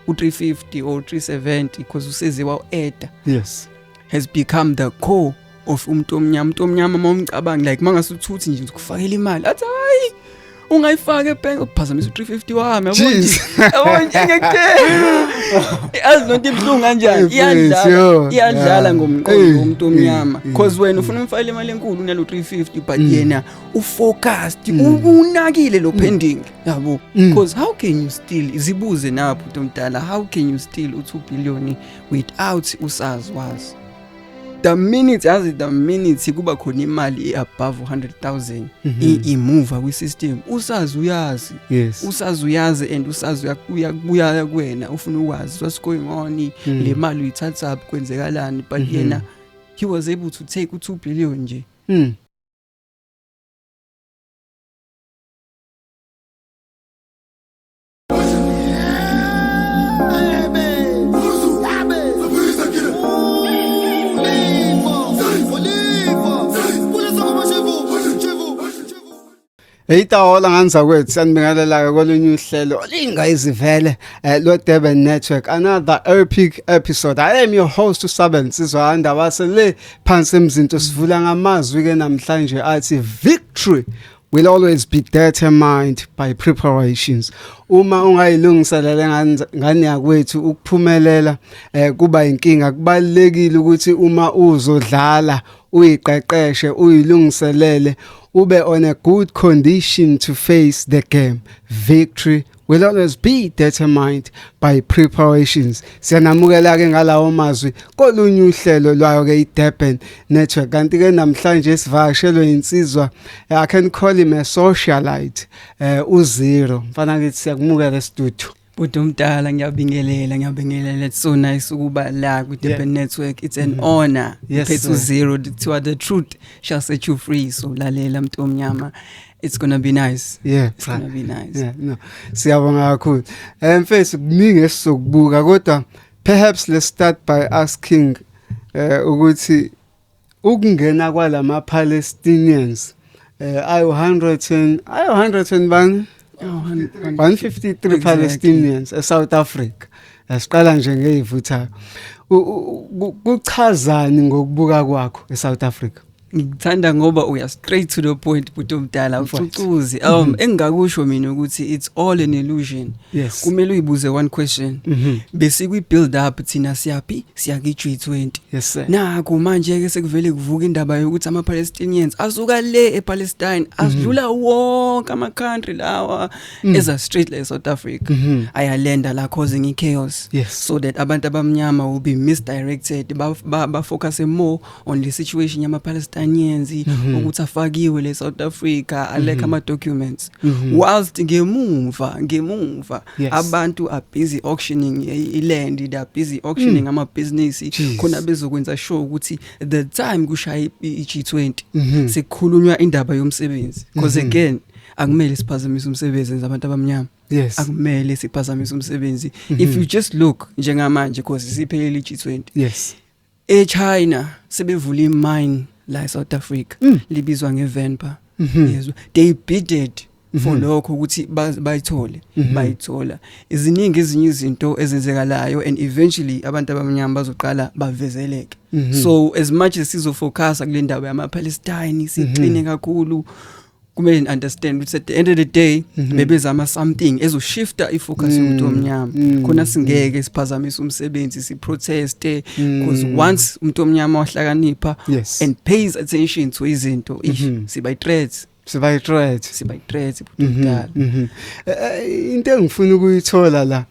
u-350 or 370 because useziwa u-eda yes has become the core of umuntu omnyama umuntu omnyama uma umcabanga like mangase uthuthi nje ukufakela imali athi hayi ungayifaka ebhenki uphazamisa u-350 wami azi nonto ibuhlungu kanjani iyadlala iyadlala ngomqondo womuntu omnyama because wena ufuna umfakela imali enkulu unalo 350 but mm. yena ufocused mm. unakile lo mm. pending yabo mm. because how can you still zibuze na bhuti omdala how can you still u-2 billion without usazi wazi the minute yazi the minute kuba khona imali above 100000 mhm. imove kwi system usazi uyazi yes usazi uyazi and usazi uyakuya kuya kuwena ufuna ukwazi what's going on mm. le mali uyithatha up kwenzekalani but mhm. yena he was able to take u2 billion nje mm. Eyitahola nganzakwethu sanibingelela-ke kolunye uhlelo olingayizivele um eh, lwe-durban network another epic episode i am your host usabe nsizwa ndabase le phansi emzinto sivula ngamazwi-ke namhlanje athi victory will always be determined by preparations uma ungayilungiselele ngane yakwethu ukuphumelela eh kuba inkinga kubalekile ukuthi uma uzodlala uyiqeqeshe uyilungiselele ube on a good condition to face the game victory will always be determined by preparations siyanamukela ke ngalawo mazwi kolunye uhlelo lwayo ke iDurban network kanti ke namhlanje sivakashelwe insizwa eh, i can call him a socialite eh uzero mfana ngithi siyakumukela estudio Bhuti omdala ngiyabingelela ngiyabingelela it's so nice ukuba la ku Durban yeah. Network it's an mm -hmm. honor yes, phethu zero kuthiwa the truth shall set you free so lalela mntomnyama it's gonna be nice yeah it's gonna be nice yeah no siyabonga kakhulu eh mfethu kuningi esizokubuka kodwa perhaps let's start by asking eh ukuthi ukungena kwalama Palestinians eh ayo 100 ayo 100 bani 153 Palestinians eSouth Africa asiqala nje ngeyivuthayo kuchazani ngokubuka kwakho eSouth Africa ngikuthanda ngoba uya straight to the point bhuti omdala ucucuzi um mm-hmm. engingakusho mina ukuthi it's all an illusion yes. kumele uyibuze one question mm -hmm. besikwi build up thina siyaphi siya ki G20 yes sir naku manje ke sekuvele kuvuka indaba yokuthi ama Palestinians asuka le ePalestine mm-hmm. asidlula mm -hmm. wonke ama country lawa mm -hmm. eza straight le South Africa mm -hmm. ayalenda la causing i chaos yes. so that abantu abamnyama will be misdirected ba, ba, ba focus more on the situation yama Palestinians mm -hmm. ukuthi afakiwe le South Africa alekha mm -hmm. ama documents mm -hmm. whilst ngemuva ngemuva yes. abantu are busy auctioning iland they are busy auctioning mm. ama business khona bezokwenza sure ukuthi the time kushaya iG20 mm -hmm. sekukhulunywa indaba yomsebenzi because mm -hmm. again akumele siphazamise umsebenzi enza abantu abamnyama yes akumele siphazamise umsebenzi mm -hmm. if mhm. you just look njengamanje because siphelele iG20 yes eChina sebevula imine la eSouth Africa mm. libizwa ngeVenpa mm -hmm. yezwa they bidded mm -hmm. for mm-hmm. lokho ukuthi bayithole mm -hmm. bayithola iziningi ezinye izinto ezenzekalayo and eventually abantu abamnyama bazoqala bavezeleke mm -hmm. so as much as sizo focus kule ndawo yama Palestine siqine mm -hmm. kakhulu kumele ni understand ukuthi at the end of the day mm -hmm. bebezama something ezoshifta ifocus mm. yomuntu omnyama mm. khona singeke siphazamise umsebenzi si protest because mm. once umuntu omnyama wahlakanipha yes. and pays attention to izinto ish mm -hmm. siba threats siba i threat siba i threat butala mhm, mhm. Eh, eh, into engifuna ukuyithola la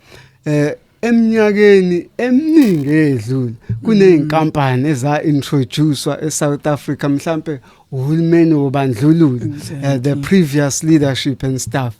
eh Eminyakeni eminingi edlule kunezinkampani eza introducewa eSouth Africa mhlambe uhulumeni wobandlululo uh, the previous leadership and staff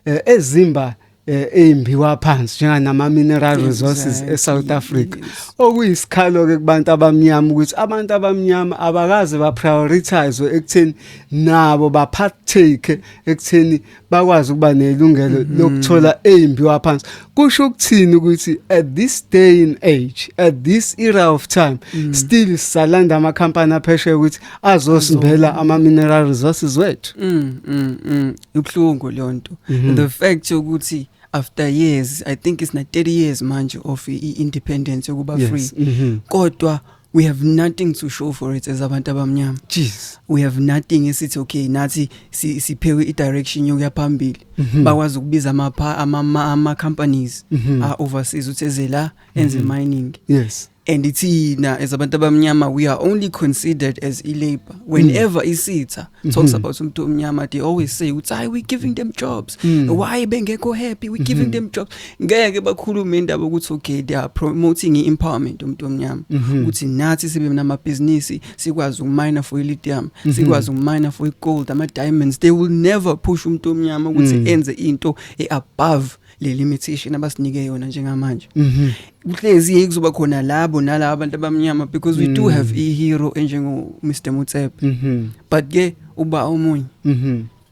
uh, eh, ezimba eh, eyimbiwa phansi njenganama mineral resources eSouth Africa okuyisikhalo ke kubantu abamnyama ukuthi abantu abamnyama abakaze ba prioritize ekutheni nabo ba partake ekutheni bakwazi ukuba nelungelo mm-hmm. lokuthola ezimbiwa phansi kusho ukuthini ukuthi at this day in age at this era of time mm. still salanda ama company aphesheya ukuthi azosimbela ama mineral resources wethu mm, mm, mm. ubhlungu lonto mm-hmm. the fact ukuthi after years i think it's na 30 years manje of i independence yokuba free mm-hmm. kodwa we have nothing to show for it as abantu abamnyama jeez we have nothing esithi okay nathi si, siphewe i-direction yokuya phambili mm -hmm. bakwazi ukubiza amapha ama, ama companies mm -hmm. uh, overseas uthi eze la enze mm -hmm. mining yes and ithina as abantu abamnyama we are only considered as ilabor whenever mm. isitha mm-hmm. talks mm -hmm. about umuntu omnyama they always say uthi hayi we giving them jobs mm. why bengekho happy we giving mm -hmm. them jobs ngeke bakhulume indaba ukuthi okay they are promoting i-empowerment umuntu omnyama mhm. ukuthi nathi sibe namabhizinisi sikwazi ukumina for i-lithium mhm. sikwazi ukumina for i-gold ama-diamonds they will never push umuntu omnyama ukuthi mm. enze into e-above le limitation abasinike yona njengamanje mhm. kuhlezi yeke kuzoba khona labo nalabo abantu abamnyama because we do mm. have i-hero enjengo-mr mutsepe but ke uba omunye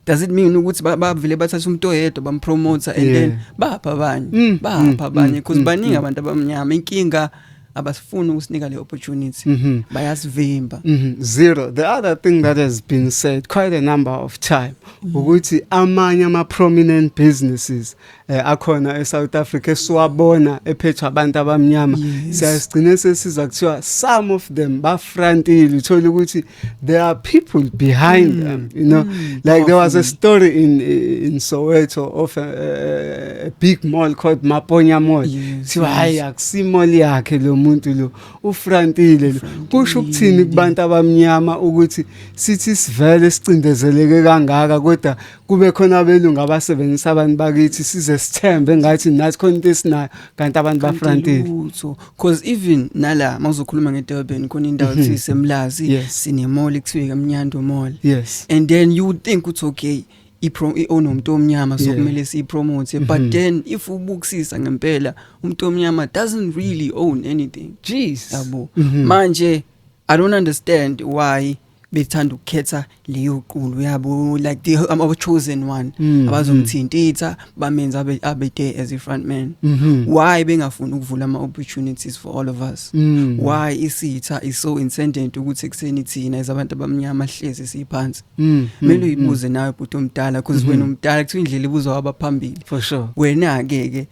does it mean ukuthi bavele bathatha umuntu oyedwa bampromoter and then bapha abanye mm, bapha mm, abanye mm, because baningi abantu abamnyama inkinga abasifuni ukusinika le opportunity mm-hmm. bayasivimba mm-hmm. zero the other thing that has been said quite a number of time mm-hmm. ukuthi amanye ama prominent businesses eh, akhona eSouth Africa esiwabona ephethwa abantu abamnyama siyasigcina sesiza kuthiwa some of them bafrontile uthola ukuthi yes. there are people behind mm. them you know mm. like Often. there was a story in in Soweto of a, a big mall called Maponya Mall yes, so hayi yes. akusimall yakhe lo muntu lo ufrantile lo kusho ukuthini kubantu abamnyama ukuthi sithi sivele sicindezeleke kangaka kodwa kube khona abelungu abasebenzisa abantu bakithi size sithembe ngathi nathi khona into esinayo kanti abantu bafrantile lutho cause even nala mawuzokhuluma ngeDurban khona indawo mhm. thise Mlazi yes. sine mall ekuthiwa eMnyando mall yes and then you would think it's okay iprom ionomuntu omnyama so kumele siyipromote mhm. but then if ubukisisa ngempela umuntu omnyama doesn't really own anything jeez yabo mhm. manje i don't understand why bethanda ukukhetha leyo qulu yabo like the um, our chosen one mm, mm. abazomthintitha bamenza abe abe there as a front man mm -hmm. why bengafuni ukuvula ama opportunities for all of us mm. why isitha is so incendent ukuthi kuseni thina izabantu abamnyama hlezi siphansi mm, mm, mele uyibuze nawe bhuti omdala because mm-hmm. wena umdala kuthiwa indlela ibuzwa abaphambili for sure wena ke ke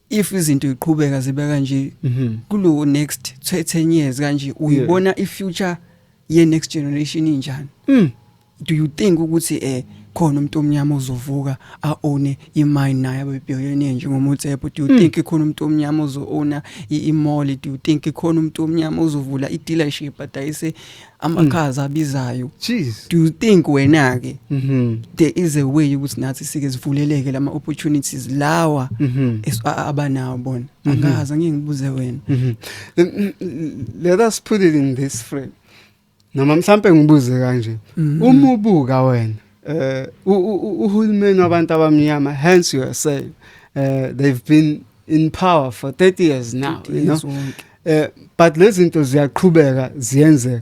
if izinto iqhubeka zibe kanje mm-hmm. kulo next 10 years kanje uyibona i future ye next generation injani mm do you think ukuthi eh khona umuntu omnyama ozovuka a own imine naye abe billionaire njengomotsepo do you mm. think khona umuntu omnyama ozo own imall do you think khona umuntu omnyama ozovula i dealership adayise amakhaza hmm. abizayo do you think wena ke mm -hmm. there is a way ukuthi nathi sike sivuleleke lama opportunities lawa mm -hmm. abanawo bona mm -hmm. angazi ngeke ngibuze wena mm -hmm. let us put it in this frame noma mhlambe ngibuze kanje mm-hmm. uma ubuka wena eh uhulumeni wabantu abamnyama hence you are saying uh, they've been in power for 30 years now you know uh, but lezi zinto ziyaqhubeka ziyenzeka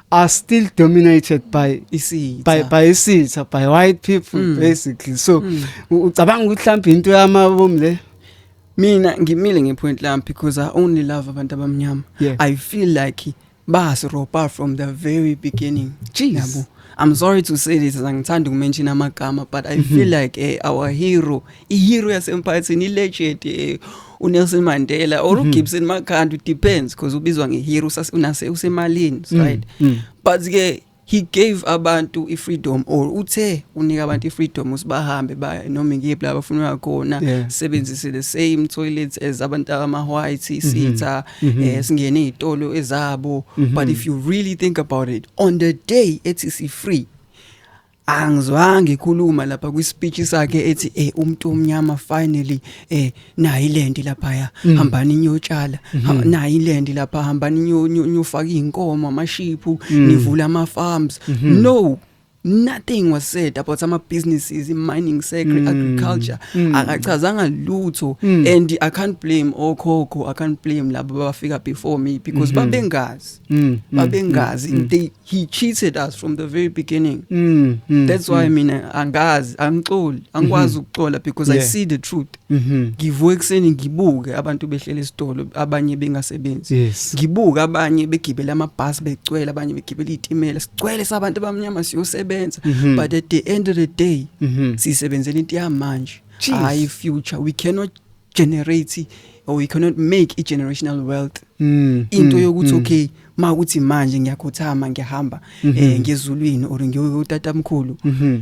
are still dominated by isitha by by isitha by white people mm. basically so mm. ucabanga ukuthi mhlawumbe into yamabomu le mina ngimile ngepoint lami because i only love abantu abamnyama yeah. i feel like basiropa from the very beginning yabo i'm sorry to say this angithandi ukumention amagama but i mm -hmm. feel like eh, our hero ihero yasemphakathini ilegend eh, uNelson Mandela or mhm. uGibson Makhanda depends because ubizwa ngehero unase usemalini mm, right mm. but ke he gave abantu ifreedom or uthe unika abantu ifreedom usibahambe ba noma ngiyiphi la bafuna khona sebenzise the same toilets as abantu ama white mhm. sitha mhm. eh, singene izitolo ezabo but if you really think about it on the day ethi si free angizwange ikhuluma lapha kwi speech sakhe ethi eh umuntu omnyama finally eh na iland lapha ya mm. hambani nyotshala mm -hmm. na iland lapha hambani nyo nyofaka inkomo amashiphu mm. nivula ama farms mm -hmm. no nothing was said about ama businesses in mining sector mm. agriculture mm. akachazanga lutho mm. and i can't blame okhokho i can't blame labo bafika before me because mm -hmm. babengazi mm. babengazi mm. they he cheated us from the very beginning mm, mm, that's why mm. mina angazi angixoli angikwazi mm-hmm. ukuxola because yeah. i see the truth mm-hmm. ngivuka ekuseni ngibuke abantu behlele esitolo abanye bengasebenzi yes. ngibuke abanye begibela amabhasi becwela abanye begibela izitimela sicwele sabantu abamnyama siyosebenza mm-hmm. but at the end of the day mm-hmm. sisebenzela into yamanje hayi future we cannot generate or you cannot make a generational wealth mm, into mm, yokuthi mm. okay ma ukuthi manje ngiyakhothama ngiyahamba mm -hmm. eh ngezulwini or ngiyotata mkhulu mm -hmm.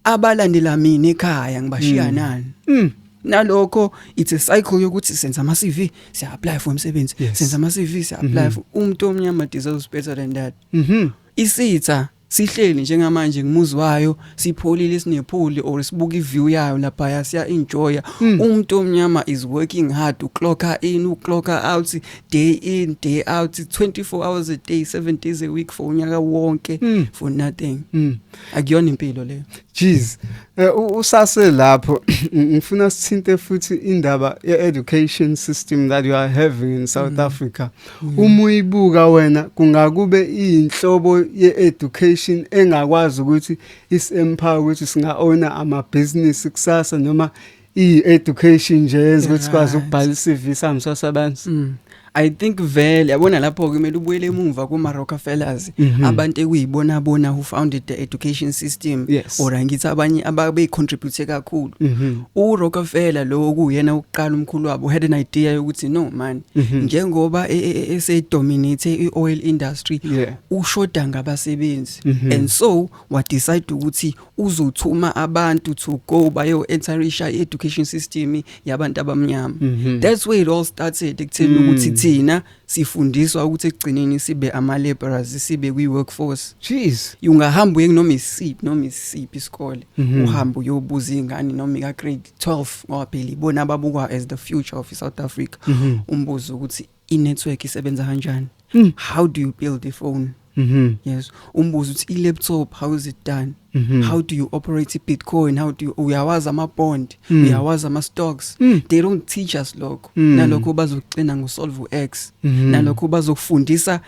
abalandela mina ekhaya ngibashiya mm. nani mm. nalokho it's a cycle yokuthi senza ama CV siya apply for umsebenzi yes. senza ama CV siya apply mm -hmm. for umuntu omnyama deserves better than that mhm mm isitha sihleli njengamanje ngimuzi wayo sipholile sinephuli or sibuka iview yayo lapha yasiya enjoya hmm. umuntu omnyama is working hard uclocker in uclocker out day in day out 24 hours a day 7 days a week for unyaka wonke hmm. for nothing hmm. akuyona impilo leyo Jeez. Eh, usase lapho ngifuna sithinte futhi indaba ye-education system that you are having in South mm. Africa. Mm. Uma uyibuka wena kungakube inhlobo ye-education engakwazi ukuthi isempower ukuthi singa owner ama business kusasa noma i education nje yenza ukuthi kwazi ukubhala iCV sami sasabanzi mm. I think vele yabona lapho ke mele ubuyele emuva kuma Rockefellers mm -hmm. abantu ekuyibona bona who founded the education system yes. or ngithi abanye ababe contribute kakhulu mm -hmm. u Rockefeller lo kuyena ukuqala umkhulu wabo had an idea yokuthi no man mm -hmm. njengoba e, e, e, ese dominate i oil industry yeah. ushoda ngabasebenzi mm -hmm. and so wa decide ukuthi uzothuma abantu to go bayo enterisha education system yabantu abamnyama mm -hmm. that's where it all started ekutheni mm. ukuthi thina sifundiswa ukuthi ekugcineni sibe ama laborers sibe kwi workforce jeez ungahamba uye noma isiphi noma isiphi isikole mm -hmm. uhamba uyobuza ingane noma ka grade 12 ngoba phela ibona ababukwa as the future of South Africa mm -hmm. umbuzo ukuthi i-network isebenza kanjani mm. how do you build a phone Mm -hmm. yes umbuzo uthi i-laptop how is it done mm -hmm. how do you operate i-bitcoin how do you uyawazi ama-bond mm. uyawazi ama-stocks mm. they don't teach us lokho mm. nalokho bazokucina ngosolve u-x mm -hmm. nalokho bazokufundisa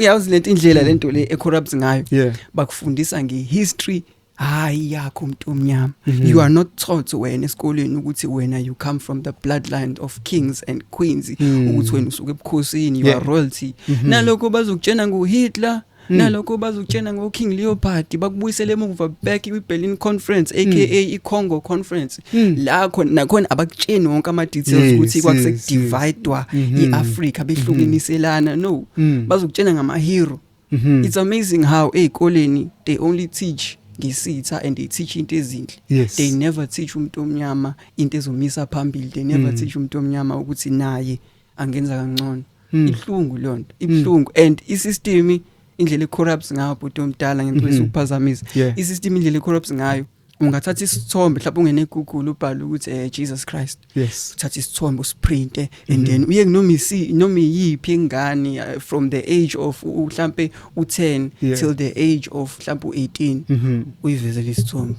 yazi lento indlela mm. lento le e-corrupt ngayo yeah. bakufundisa nge-history hayi yakho umuntu omnyama mhm. you are not taught wena esikoleni ukuthi wena you come from the bloodline of kings and queens mhm. ukuthi wena usuke ebukhosini you are royalty mhm. nalokho bazokutshena ngo Hitler Mm. nalokho bazokutshena ngo King Leopold bakubuyisele emuva back kwi Berlin conference aka mm. i Congo conference mm. la khona nakhona abakutsheni wonke ama details ukuthi kwakuse dividwa mm-hmm. i Africa behlukiniselana no bazokutshena ngama hero mm -hmm. it's amazing how ey'koleni they only teach ngisitha and they teach into ezinhle yes. they never teach umuntu omnyama into ezomisa phambili they never mm. teach umuntu omnyama ukuthi naye angenza kangcono mm. ihlungu lonto ibuhlungu mm. and isystem indlela ecorrupts ngayo bhuti omdala ngempela mm-hmm. ukuphazamisa yeah. isystem indlela ecorrupts ngayo ungathatha isithombe mhlawumbe ungene eGoogle ubhale ukuthi eh Jesus Christ yes uthatha isithombe usiprinte and mhm. then uye noma isi noma iyiphi ingane eh, from the age of mhlambe u10 till the age of mhlawumbe u18 mhm. uyivezele isithombe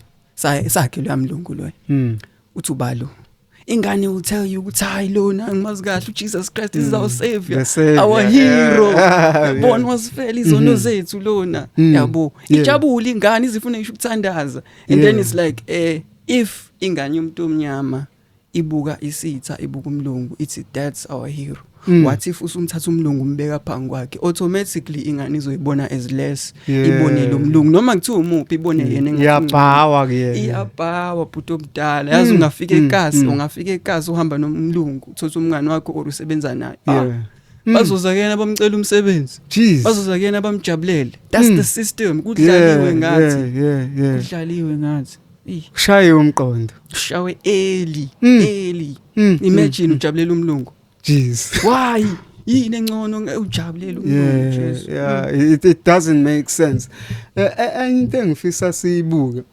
sakhe luyamlungu loyo hmm. uthi ubalo ingane will tell you ukuthi hayi lona ngimazi kahle uJesus Christ mm. is our savior the our yeah. hero yeah. born was fell izono mm-hmm. zethu lona mm. yabo yeah. ijabula ingane izifuna isho ukuthandaza and yeah. then it's like eh if ingane yomuntu omnyama ibuka isitha ibuka umlungu ithi that's our hero Mm. what if usumthatha umlungu umbeka phangi kwakhe automatically ingane izoyibona as less yeah. ibone lo mlungu noma kuthiwa umuphi ibone yena iyabhawa kuyena iyabhawa bhuti omdala yazi mm. ungafika mm. ekasi mm. ungafika ekasi uhamba nomlungu uthotha umngane wakho or usebenza naye ah. yeah. Mm. bazoza kuyena bamcela umsebenzi bazoza kuyena bamjabulele that's mm. the system kudlaliwe yeah, ngathi yeah, yeah, yeah. kudlaliwe ngathi ushaye umqondo ushawe eli mm. eli mm. imagine mm. ujabulela umlungu jeez why yini engcono ujabulele umuntu Jesu hmm. yeah it, it doesn't make sense e, e, enye into engifisa siyibuke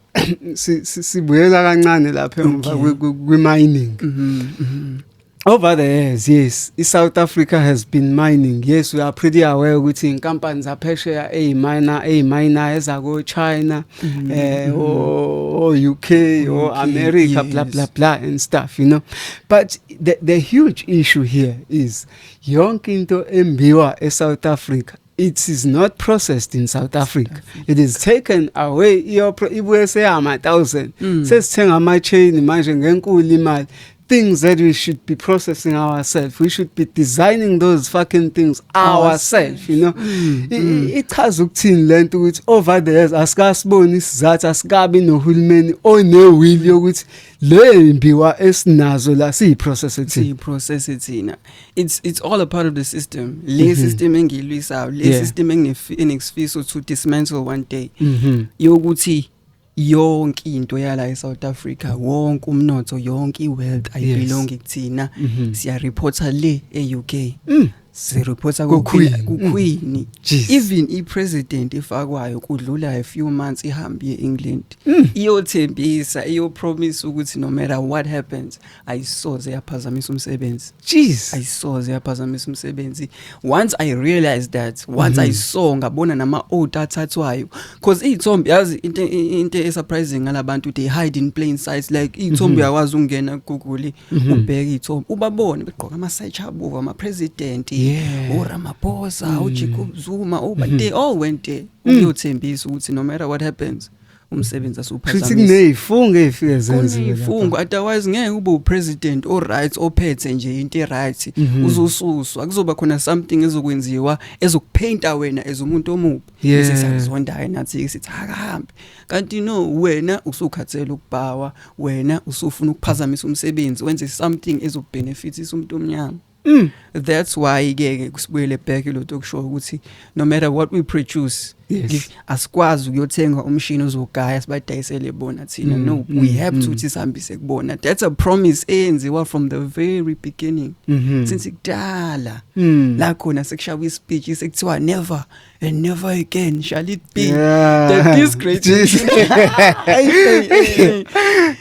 sibuyela kancane lapha emva kwi mining mm-hmm, mm-hmm. Over the years, yes, South Africa has been mining. Yes, we are pretty aware ukuthi inkampani zaphesheya eyimina eyimina ezako China mm-hmm. eh mm-hmm. o UK o America blah blah blah and stuff, you know. But the, the huge issue here is yonke into embiwa eSouth Africa it is not processed in South Africa. It is taken away ibuye seyama 1000. Mm. Sesithenga ama chain manje ngenkulu imali. Things that we should be processing ourselves. We should be designing those fucking things ourselves, you know. Mm. mm. Ichaza ukuthini lento ukuthi over the years asikasiboni isizathu asikabi nohulumeni onewill yokuthi oh, lembiwa esinazo la siyi process ethi siyi process ethina it's it's all a part of the system le mm -hmm. system engilwisayo le yeah. system enginefiso to dismantle one day mm -hmm. yokuthi yonke into yala eSouth Africa mm-hmm. wonke umnotho yonke iwealth ayibelongi kuthina mm-hmm. siya reporter le eUK mm. sireporta kukhwini kukhwini mm. even i president efakwayo kudlula a few months ihambe ye England mm. iyothembisa iyopromise ukuthi no matter what happens ayisoze yaphazamisa umsebenzi jeez ayisoze yaphazamisa umsebenzi once i realized that once mm -hmm. i mm-hmm. saw ngabona nama old athathwayo Cause iyithombe yazi into into esurprising ngalabantu they hide in plain sight like iyithombe mhm. uyakwazi ukungena Google mhm. ubheke iyithombe ubabone begqoka ama side chabo ama president u Ramaphosa mm. u Jacob Zuma u but mhm. they all went there mm. uyothembisa ukuthi no matter what happens umsebenzi asuphazamisa futhi kunezifungo ezifike zenziwe izifungo otherwise ngeke ube upresident o right ophethe nje into e right uzosuswa kuzoba khona something ezokwenziwa ezokupainta wena as umuntu omubi yeah. sisakuzondayo nathi sithi akahambe kanti no wena usukhathele ukubhawa wena usufuna ukuphazamisa umsebenzi wenze something ezobenefitisa umuntu omnyama Mm. That's why ke kusibuyele back lo talk show ukuthi no matter what we produce yes. asikwazi ukuyothenga umshini ozogaya sibadayisele bona thina mm. no mm. we have mm. to ukuthi sihambise kubona that's a promise eyenziwa from the very beginning mm -hmm. since kudala mm. la khona sekushaba ispeech sekuthiwa never and never again shall it be yeah. that this great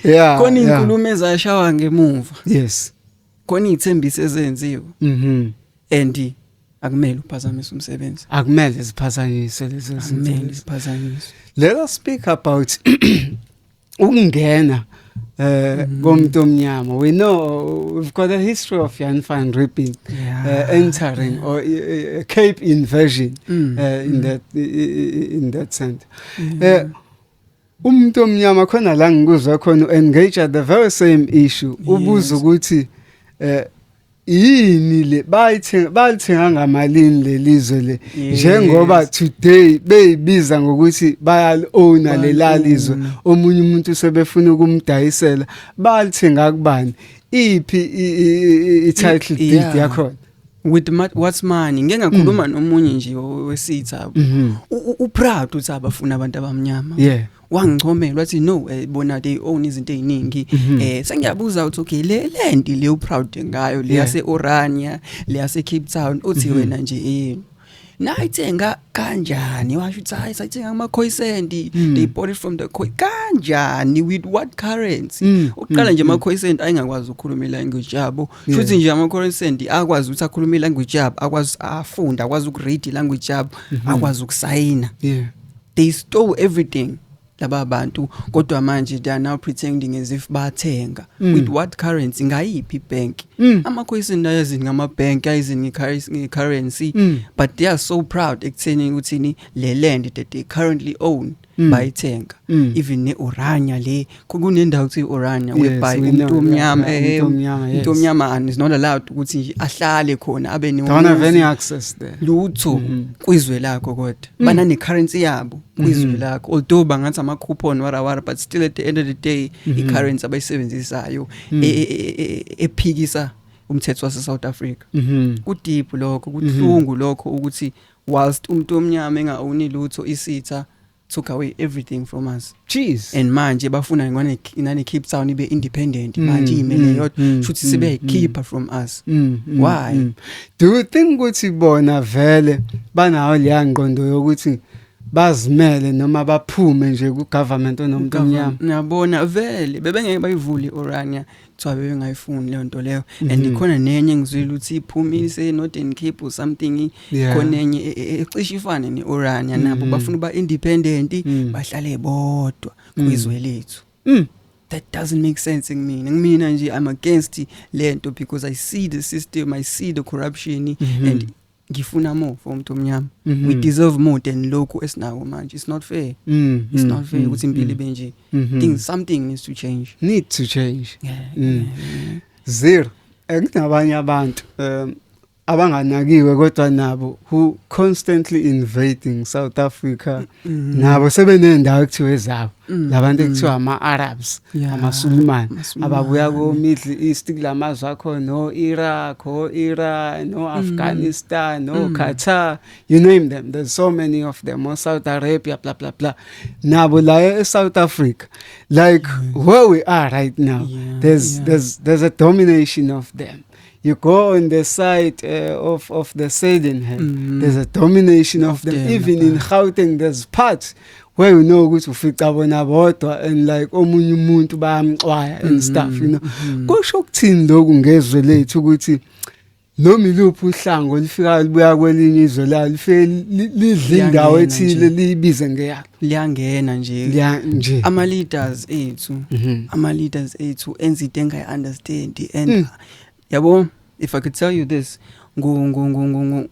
yeah khona inkulumo ezashawa ngemuva yes khona izithembiso ezenziwe mhm and akumele uphazamise umsebenzi akumele ziphazanyiswe lezo zinto akumele ziphazanyiswe let us speak about ukungena eh mm. komuntu omnyama we know we've got a history of Jan van Riebeeck yeah. uh, entering or uh, Cape invasion mm. uh, in mm. that in that sense mm. uh, umuntu omnyama khona la ngikuzwa khona engage the very same issue ubuza ukuthi eh yini le bayithenga balithenga ngamalini lelizwe le njengoba today beyibiza ngokuthi bayal owner lelalizwe omunye umuntu sebefuna ukumdayisela balithenga kubani iphi i title deed yakho with what's money ngeke ngakhuluma mm. nomunye nje wesitha mhm. u proud uthi abafuna abantu abamnyama yeah wangichomela wathi no eh, bona they own izinto eziningi mhm. eh sengiyabuza uthi okay le land le u proud ngayo le yase Orania le yase Cape Town uthi mhm. wena nje eh nayithenga kanjani washo ukuthi hayi sayithenga kuma coisendi mm. they bought it from the coin kanjani with what currency mm. uqala mm. nje ama coisendi ayengakwazi ukukhuluma language yabo futhi nje ama coisendi akwazi ukuthi akhulume language yabo akwazi afunda akwazi ukuread language yabo mm-hmm. akwazi ukusayina yeah they stole everything laba bantu kodwa manje they are now pretending as if bathenga mm. with what currency ngayiphi bank mm. amakhoyisi nayo ezini ngama bank ayizini currency mm. but they are so proud ekutheni ukuthi ni le land that they currently own mm. bayithenga mm. even ne oranya le kunendawo kuthi urania webhayi umuntu omnyama eh, umuntu omnyama and is not allowed ukuthi nje ahlale khona abe ne don't have any access there lutho mm-hmm. kwizwe lakho kodwa mm. bana ne currency yabo mm-hmm. kwizwe lakho although bangathi ama coupon wara wara but still at the end of the day i mm-hmm. currency abayisebenzisayo mm. e, e, e, ephikisa umthetho wase South Africa ku deep lokho kuhlungu lokho ukuthi whilst umuntu omnyama engaoni lutho isitha took away everything from us jeez and manje bafuna ngone nane Cape Town ibe independent mm, manje imele mm, yodwa mm, shuthi mm, sibe mm, keeper from us mm, mm, why mm. do you think ukuthi bona vele banawo leya ngqondo yokuthi bazimele noma baphume nje ku government onomuntu omnyama ngiyabona vele bebengeke bayivule orania kuthiwa bebengayifuni leyo nto leyo and mm-hmm. ikhona nenye engizwile ukuthi iphumile iseNorthern Cape or something khona enye e, e, e, ecishe ifane ne-Orania nabo mm-hmm. bafuna uba independent mm. bahlale bodwa mm. kwizwe lethu mm. that doesn't make sense kumina kumina nje i'm against lento because i see the system i see the corruption mm -hmm. and ngifuna more for umuntu omnyama mm -hmm. we deserve more than lokhu esinako manje it's not fair mm -hmm. it's not fair mm-hmm. ukuthi impilo ibe nje mm -hmm. things something needs to change need to change yeah, mm. yeah, yeah. zero ekunabanye abantu um abanganakiwe kodwa nabo who constantly invading South Africa Mm. nabo sebenendawo ekuthiwa ezabo mm. labantu mm. ekuthiwa ama-arabs amasulimane ababuya ko-middle east kula mazwe akhona no-iraq o-iran no-afghanistan no-qatar you name them there's so many of them o-south arabia bla bla bla nabo la e-south africa like where we are right now there's, there's, there's a domination of them you go on the side uh, of of the southern mm -hmm. there's a domination of them yeah, even in Gauteng there's parts where you know ukuthi ufica bona bodwa and like omunye umuntu bayamxwaya and mm-hmm. stuff you know mm-hmm. kusho ukuthini lokhu ngezwe lethu ukuthi noma iluphi uhlango lifika libuya kwelinye izwe la lifike lidla indawo ethile liyibize ngeyakhe liyangena nje liya nje ama leaders ethu mm-hmm. ama leaders ethu enza into engayi understand and mm. yabo if i could tell you this ngo ngo ngo ngo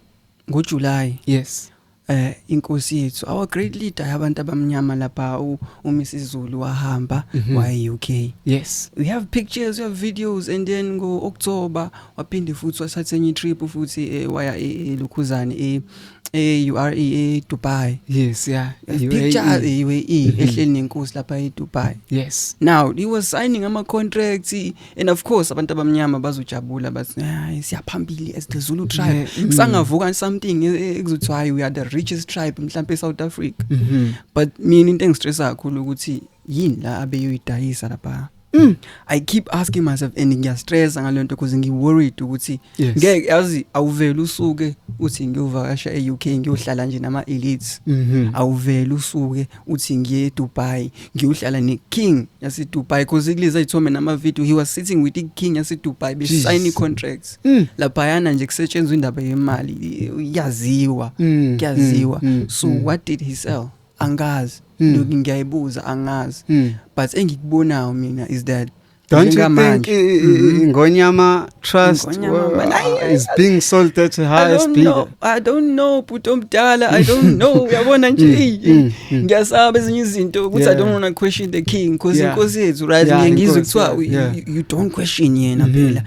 ngo July yes eh inkosi yethu our great leader yabantu abamnyama lapha uMisizulu wahamba mm -hmm. waye UK yes we have pictures we have videos and then ngo October waphinde futhi wasathe enye trip futhi eh, waya eLukhuzane eh, eh, eh, e URE e Dubai yes yeah e picture e UAE mhm. ehleli nenkosi lapha e Dubai yes now he was signing ama contracts and of course abantu abamnyama bazojabula bathi hayi siyaphambili as the Zulu tribe yeah. mm. sangavuka something e, e, ekuzothi hayi we are the richest tribe mhlawumbe eSouth Africa mm -hmm. but mina into engistressa kakhulu ukuthi yini la abeyoyidayisa lapha Mm. I keep asking myself and ngiyastressa ngalento because ngi worried ukuthi ngeke yazi awuvela usuke uthi ngiyovakasha eUK ngiyohlala nje nama elites. Mm-hmm. Awuvela usuke uthi ngiye eDubai ngiyohlala neKing yaseDubai because kulezi ayithome namavideo he was sitting with iKing yaseDubai besign icontracts mm. laphayana nje kusetshenzwa indaba yemali iyaziwa mm. kuyaziwa mm. so mm. what did he sell angazi mm. ngiyayibuza angazi mm. but engikubonayo mina is that Don't you think mm-hmm. Ingonyama Trust Ingonyama, uh, is being sold at the highest bidder? I don't know bhuti omdala I don't know uyabona nje mm, mm, mm. ngiyasaba ezinye izinto ukuthi I don't want to question the king because inkosi yethu right ngiye ngizwe kuthiwa you don't question yena mm-hmm. phela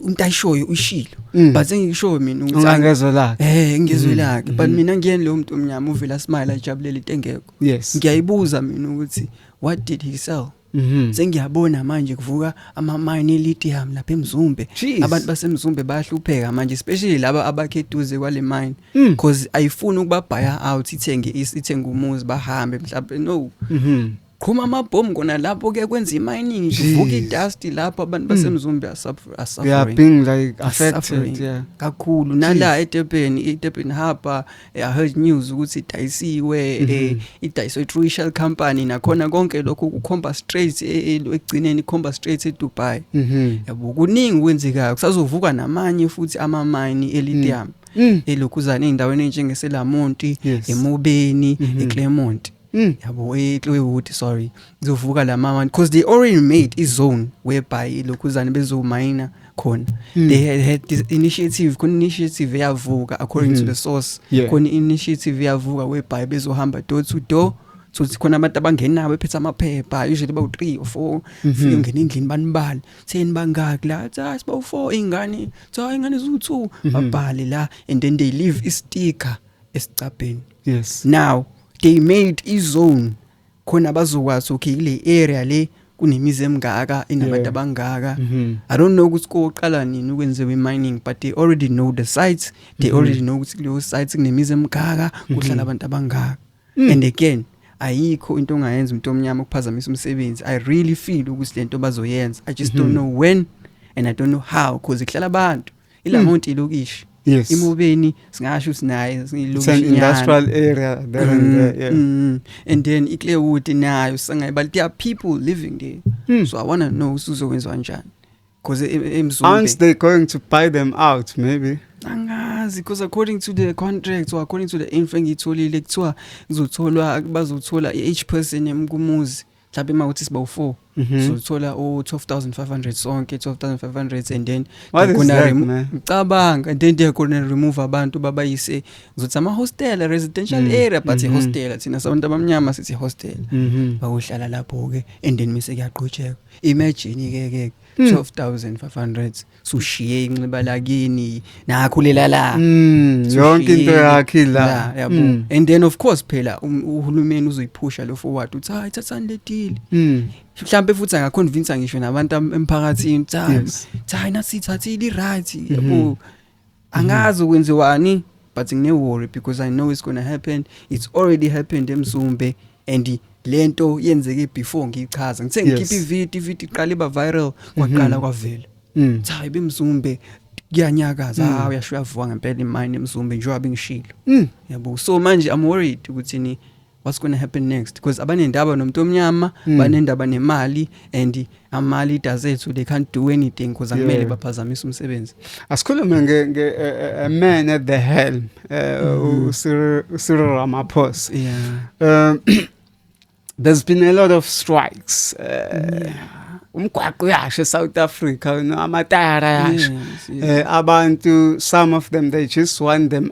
umuntu ayishoyo ushilo mm. but engiyishoyo mina ukuthi angezwe lakhe eh ngizwe mm. lakhe but mm. mina ngiyeni lo muntu omnyama uvela smile ajabulele into engekho ngiyayibuza mina ukuthi what did he sell Mhm. Sengiyabona manje kuvuka ama mine lithium lapha eMzumbe. Jeez. Abantu baseMzumbe bayahlupheka manje especially laba abakheduze kwale mine Mm. because ayifuni ukuba buy out ithenge is- ithenge umuzi bahambe mhlawumbe no. Mhm. Qhuma amabhomu kona lapho ke kwenza imining kuvuka Jeez. idust lapho abantu baseMzumbe are suffer- are Yeah, suffering. being like Are affected. suffering Yeah. kakhulu nala eTebeni iTebeni haba I heard news ukuthi idayisiwe mm -hmm. idayiswe iTrue Shell company nakhona konke lokho kukhomba straight e, e, ekugcineni ikhomba straight eDubai. Mhm. Yabo kuningi kwenzekayo kusazovuka namanye futhi ama mine eLithium. Mm. Mm. elokhuzana ezindaweni enjengeselamonti yes. emobeni mm -hmm. eclermont Mm, yabo ekliwe ukuthi sorry ngizovuka la mama because they already made i zone whereby lokhuzane bezomayina khona mm. they had, had this initiative khona initiative eyavuka according mm. to hmm. the source yeah. khona initiative eyavuka whereby bezohamba door to door so sikhona abantu abangenabo ephethe amaphepha usually bawu 3 or 4 mhm. fike ngena endlini banibali seni bangaki la cha sibawu 4 ingane cha ingane zu 2 mhm. babhale la and then they leave i sticker esicabheni yes now they made izone khona bazokwazi okay kule area le kunemizi emngaka inabantu abangaka mm-hmm. i don't know ukuthi koqala nini ukwenziwe mining but they already know the sites they mm-hmm. already know ukuthi kuleyo sites kunemizi emngaka mm-hmm. kuhlala abantu abangaka mm. and again ayikho into ongayenza umuntu omnyama ukuphazamisa umsebenzi i really feel ukuthi lento bazoyenza i just don't know when and i don't know how because ihlala abantu ilamont ilokishi yes imobeni singasho sinayo silokishi industrial area there and mm, there yeah mm. and then iclearwood nayo sangayi but there are people living there mm. so i want to know usuzokwenza kanjani because emzumbe aren't they going to buy them out maybe angazi because according to the contract or according to the info engiyitholile kuthiwa kuzotholwa bazothola i-h person emkumuzi mhlawumbe uma kuthi siba u4 mhm. so thola u 12500 sonke 12500 and then kuna ngicabanga and then they gonna remove abantu babayise ngizothi ama hostel residential mm. area but mm -hmm. hostel thina sabantu abamnyama sithi hostel mm -hmm. bakuhlala lapho ke and then mise kuyaqhutsheka imagine ke ke 12500 mm. sushiye inxiba lakini nakho lelala mm, yonke into yakhe la yabo mm. and then of course phela um, uhulumeni uzoyiphusha lo forward uthi hayi thathani le deal mm. mhlambe futhi angaconvince ngisho nabantu emphakathini cha cha nasithathile right yabo mm-hmm. angazi kwenziwani but ngine worry because i know it's gonna happen it's already happened emzumbe and lento yenzeke before ngichaza ngithe ngikhipha ivideo ivideo iqale ba viral kwaqala mm-hmm. kwavela mm. cha ibemzumbe kuyanyakaza mm. ha uyasho uyavuka ngempela imine emzumbe njengoba bengishilo mm. yabo so manje i'm worried ukuthi ni what's going to happen next because abanendaba nomuntu omnyama mm. banendaba nemali and ama leaders ethu they can't do anything because akumele yeah. baphazamise umsebenzi asikhulume nge, nge uh, eh, eh, man at the helm uh, eh, mm. Mm-hmm. Cyril Ramaphosa yeah um, there's been a lot of strikes uh, yeah. umgwaqo uyashe South Africa no amatayara yashe yes, yes. uh, abantu some of them they just want them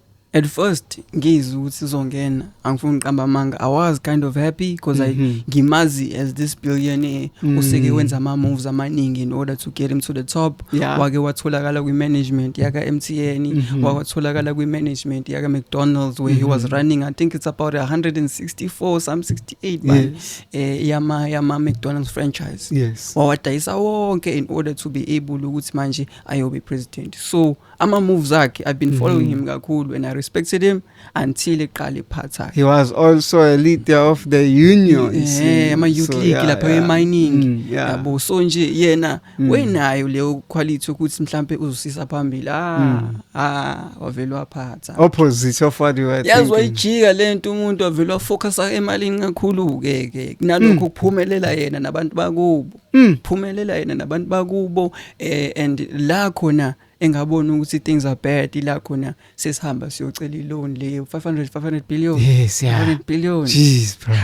at first ngizwe ukuthi izongena angifuni uqamba amanga i was kind of happy because mm -hmm. i mhm. ngimazi as this billionaire mm. useke wenza ama moves amaningi in order to get him to the top yeah. wake watholakala kwi management yaka MTN mm -hmm. wakatholakala kwi management yaka McDonald's where mm -hmm. he was mhm. running i think it's about 164 some 68 by yes. eh, yama yama McDonald's franchise yes wawadayisa wonke in order to be able ukuthi manje ayobe president so ama moves akhe i've been following mm -hmm. him kakhulu and i respected him until eqala iphatha he was also a leader of the union yeah ama youth so, league yeah, lapha yeah. emining mm, yeah. yabo so nje yena mm. wenayo leyo quality ukuthi mhlambe uzosisa phambili ah mm. ah wavele waphatha opposite of what you were yazwa ijika lento umuntu wavele wafocusa emalini kakhulu ke ke nalokho mm. kuphumelela yena nabantu bakubo Mm. phumelela yena nabantu bakubo eh, and la khona engabona ukuthi things are bad ila khona sesihamba siyocela iloan le 500 500 billion Yes, yeah. 500 billion Jeez, bro.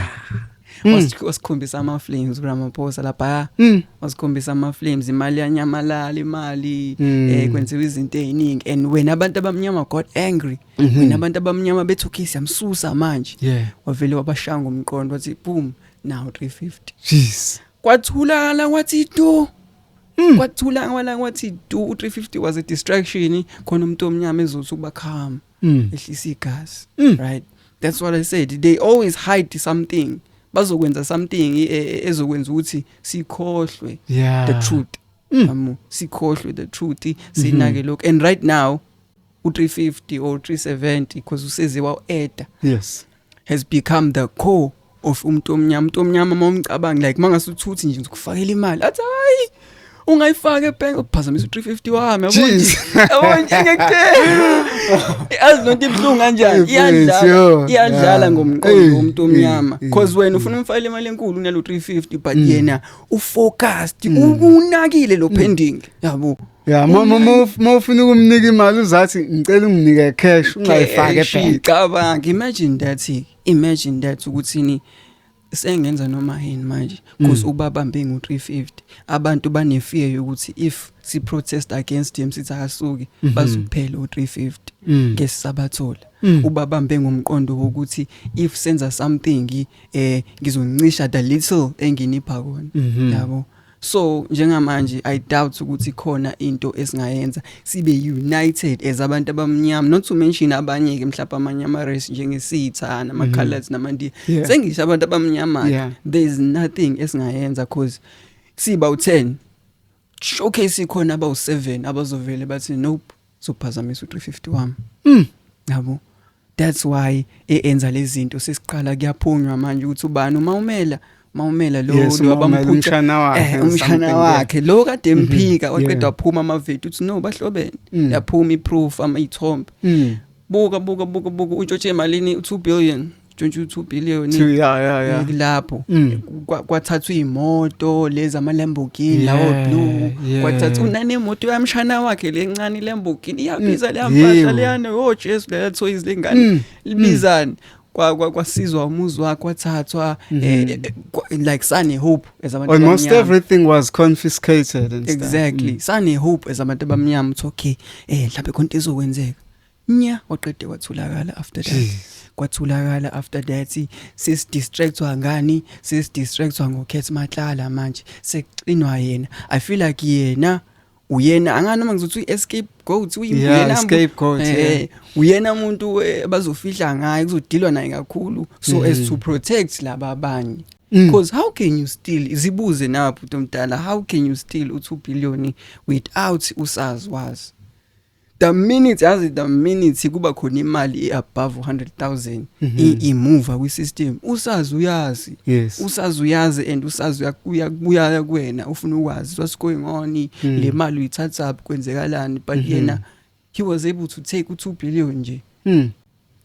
Wasi- wasikhombisa ama flames uRamaphosa lapha Mm. wasikhombisa ama flames imali yanyamalala imali Mm. eh kwenziwa izinto eziningi and wena abantu abamnyama got angry wena abantu abamnyama bethu kiss yamsusa manje Yeah. wavele wabashanga umqondo wathi boom nawo 350 jeez kwathulakala kwathi tu Mm. kwathula wala kwathi du 350 was a distraction khona umuntu omnyama ezothi ukuba calm Mm. ehlisa igazi Mm. right that's what i said they always hide something bazokwenza something e- e- ezokwenza ukuthi sikhohlwe yeah the truth Mm. amu sikhohlwe the truth sinake lokho and right now u350 or 370 because useze waeda yes has become the core of umuntu omnyama umuntu omnyama uma umcabanga like mangase uthuthi nje ukufakela imali athi hayi ungayifaka ebank uphazamisa u350 wami yabona ngekuthenga azi nonto ibhlungu kanjani iyadlala iyadlala ngomqondo womuntu omnyama because wena ufuna umfayile imali enkulu unalo 350 but mm. yena ufocused mm. unakile lo mm. pending yabo ya uma ufuna ukumnika imali uzathi ngicela unginike cash ungayifake phela cabanga imagine that imagine that ukuthini sengenza noma yini manje because mm. ubabambe ngo 350 abantu bane fear yokuthi if si protest against him sithi akasuki mm -hmm. bazophela u 350 mm. ngesisabathola mm. ubabambe ngomqondo wokuthi if senza something eh ngizoncisha the little enginipha kona mm -hmm. yabo so njengamanje i doubt ukuthi khona into esingayenza sibe united as abantu abamnyama not to mention abanye ke mhlawumbe amanye ama race njengesitha nama mhm. colors nama ndi sengisho abantu abamnyama there is nothing esingayenza cause siba u10 showcase ikhona abawu7 abazovele bathi nope sokuphazamisa u350 wami mm yabo that's why eyenza lezi zinto sesiqala kuyaphunywa manje ukuthi ubani uma umela mawumela lo yes, wabamphutshana wakhe eh, umshana wakhe lo kade mhm. emphika waqeda waphuma amavedu uthi no bahlobene mm. yaphuma iproof ama ithombe mm. buka buka buka buka utshotshe emalini u2 billion 22 billion Two, yeah, yeah, yeah. kulapho Mm. Kwa- kwathathwa iy'moto lezi ama-lamborghini lawo Yeah, blue yeah. kwathathwa unanemoto yamshana wakhe lencane i-lamborghini iyabiza leya Yebo. mpahla leyana o jesu leya thoyizi lengane Mm. libizani Kwa- kwa- kwasizwa umuzi wakhe kwathathwa eh, eh, kwa- like sane hope as abantu Mhm. Almost abamnyama. everything was confiscated and stuff. exactly Mm. sane hope as abantu abamnyama ukuthi okay eh mhlawumbe khonto izokwenzeka nya waqede wathulakala after that kwathulakala after that sis distractwa ngani sis distractwa ngokhetha matlala manje sekuxinwa yena i feel like yena uyena angani noma ngizothi uyi-escape goat uyinamuyena eh, uyena umuntu eh, bazofihla ngaye kuzodilwa naye kakhulu so mm. as to protect laba abanye mm. because how can you still zibuze napho utomdala how can you still u-two billion without usazi wazi the minute yazi the minute kuba khona imali above 100,000 mhm. imuva kwi system usazi uyazi yes. usazi uyazi and usazi uyakuya kuya kuwena ufuna ukwazi what's going on mm. le mali uyithatha up kwenzekalani but mm -hmm. yena he was able to take u2 billion nje mm.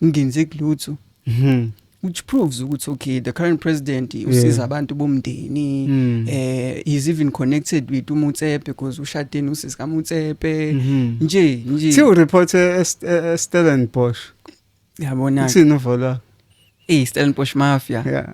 ngenze kulutho mhm which proves ukuthi okay the current president usiza abantu bomndeni mm. eh is even connected with umutsepe because ushadeni usisi kamutsepe mm-hmm. nje nje siwu report e, e, Stellenbosch yabona sino vola eh Stellenbosch mafia yeah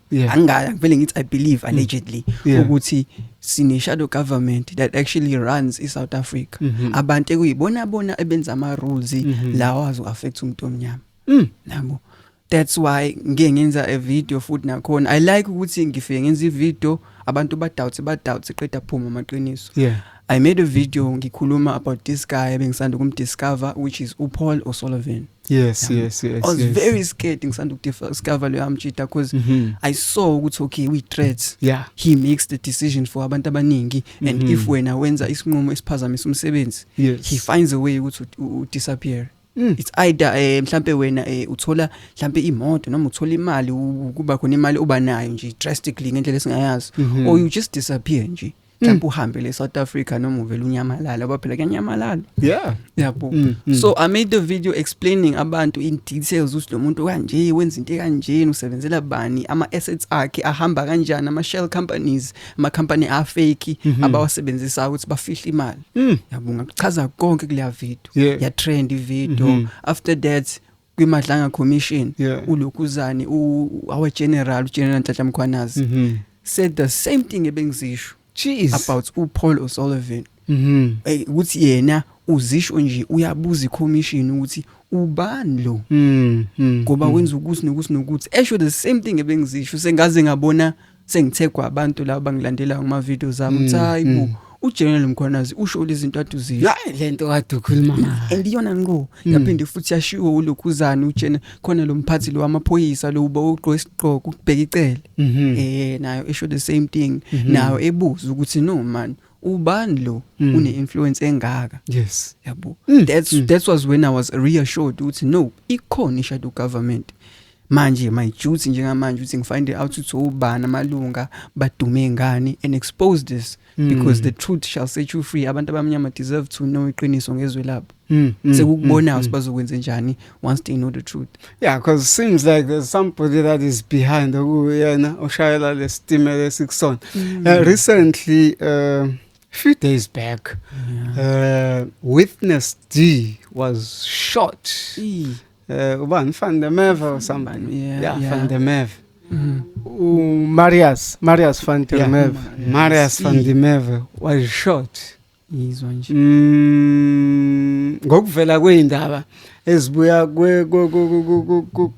yeah. angaya ngivele ngithi i believe mm. allegedly yeah. ukuthi sine shadow government that actually runs i South Africa mm -hmm. abantu ekuyibona bona ebenza ama rules mm -hmm. lawa azo affect umuntu omnyama mm. nabo that's why ngike ngenza a video futhi nakhona i like ukuthi ngifike ngenza ivideo abantu ba doubt ba doubt qeda phuma amaqiniso yeah i made a video ngikhuluma about this guy bengisanda kumdiscover which is uPaul O'Sullivan yes yeah. yes yes i was yes. very scared ngisanda ukudiscover leyo amjita because mm -hmm. i saw ukuthi okay we threats yeah he makes the decision for abantu abaningi mm -hmm. and if mm-hmm. wena wenza isinqumo esiphazamisa umsebenzi yes. he finds a way ukuthi u disappear Mm. It's either eh mhlambe wena eh uthola mhlambe imoto noma uthola imali kuba khona imali oba nayo nje drastically ngendlela esingayazi mm -hmm. or you just disappear nje. mhlawumbe uhambe le South Africa noma uvela unyamalala ngoba phela kuyanyamalala yeah yabo mm, mm. so i made the video explaining abantu in details ukuthi lo muntu kanje wenza into kanjeni usebenzela bani ama assets akhe ahamba kanjani ama shell companies ama company a fake mm -hmm. abawasebenzisa ukuthi bafihle imali mm. yabo ngakuchaza konke kuleya video yeah. ya trend video mm -hmm. after that kwiMadlanga Commission yeah. uLokuzane our general uGeneral Ntatha Mkhwanazi mm -hmm. said the same thing ebengizisho Jeez. about uPaul O'Sullivan mhm hey ukuthi yena uzisho nje uyabuza icommission ukuthi ubani lo mhm ngoba mm. wenza ukuthi nokuthi nokuthi esho the same thing ebengizisho sengaze ngabona sengithegwa abantu laba bangilandelayo ngama videos ami mm, hayi bo mm. uGeneral Mkhwanazi usho izinto aduzile hayi lento kade ukhuluma ngayo and iyona ngo mm. yaphinde futhi yashiwo ulokhuzana uGeneral khona lo mphathi lo wamaphoyisa lo uba ugqoka isigqoko ukubheka icele mhm. eh nayo esho the same thing mhm. nayo ebuza ukuthi no man ubani lo mm. une influence engaka yes yabo mm. that's mm. that was when i was reassured ukuthi no ikhona i shadow government manje my duty njengamanje ukuthi ngifind out ukuthi ubani amalunga badume ngani and expose this mm. because the truth shall set you free abantu abamnyama deserve to know iqiniso ngezwe labo mm. mm sekukubona mm, mm. sibazokwenza njani once they know the truth yeah because it seems like there's somebody that is behind okuyena oshayela lesitimela esikusona mm. uh, recently uh, few days back yeah. uh, witness d was shot Eee. Eh ubani fan the meve or somebody. Yeah, yeah, yeah. fan the meve. Mm. U Marius, Marius fan the yeah. meve. Marius fan the meve was short. Yizwa nje. Mm ngokuvela kweindaba ezibuya kwe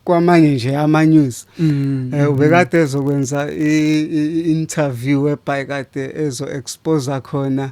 kwamanye nje ama news. Mm. Eh ubekade mm. ezokwenza i interview ebhayikade ezo expose khona.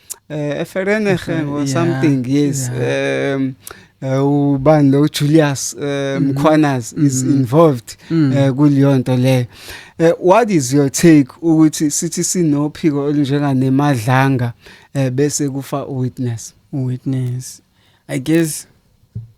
eh Ferenege eh, or something yes um eh, ubani lo Julius eh, mhm. Mkhwanas is mhm. involved mm. kuleyo nto leyo what is your take ukuthi sithi sinophiko olunjenga nemadlanga bese kufa witness witness i guess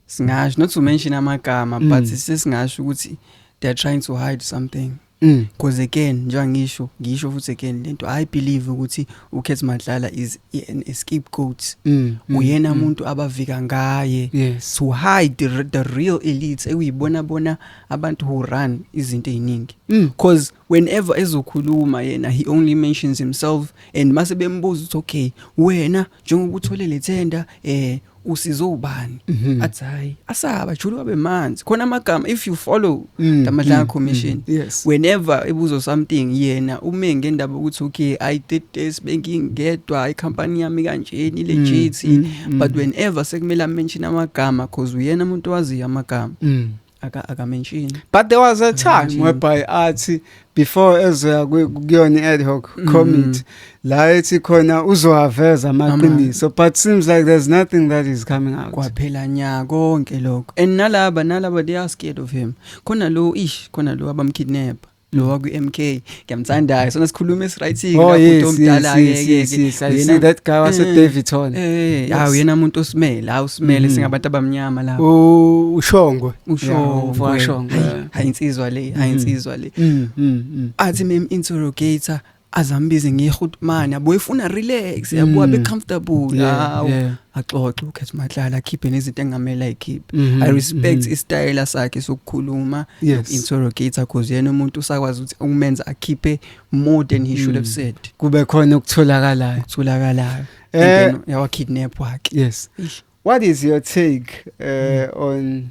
singasho not to mention amagama mm. but sesingasho ukuthi they are trying to hide something Mm, cause again njengoba ngisho ngisho futhi again lento i believe ukuthi uKhethi Madlala is an scapegoat mm, mm, uyena umuntu mm. abavika ngaye yes. to hide the, the real elites ekuyibona bona abantu who run izinto eziningi mm. cause whenever ezokhuluma yena he only mentions himself and mase bembuza ukuthi okay wena njengoba uthole le tender eh usizo ubani mhm. athi hayi asaba julu wabe manzi khona amagama if you follow mm, the Madlanga mm, commission mm, yes. whenever ebuzo something yena ume ngendaba ukuthi okay i did this bengingedwa i company yami kanjeni legit but whenever sekumele mention amagama because uyena umuntu owaziyo amagama aka aka mention but there was a time whereby athi before ezoya kuyona ad hoc mm. committee la ethi khona uzohaveza amaqiniso but seems like there's nothing that is coming out kwaphela nya konke lokho and nalaba nalaba they are scared of him khona lo ish khona lo abamkidnapper lo wa kwi-MK ngiyamthandayo sona sikhuluma esi-right-ke oh, lapho omdala yena that guy wase eh, Davidson eh hawu ah, yena umuntu osimele hawu simele mm-hmm. singabantu abamnyama la ushongwe ushongwe washongwe hayi insizwa le hayi mm-hmm. insizwa le mm-hmm. athi mem interrogator azambize ngiyehutmana boyifuna relax mm. yabuwa be comfortable hawo axoxe ukhetha mahlala akhiphe nezinto engamela ikhiphe mm-hmm. i respect mm-hmm. istyle sakhe sokukhuluma interrogate because yena umuntu usakwazi ukuthi umenza akhiphe more than he should have mm. said kube khona ukutholakalayo ukutholakalayo eh yawa kidnap wakhe yes what is your take uh, mm. on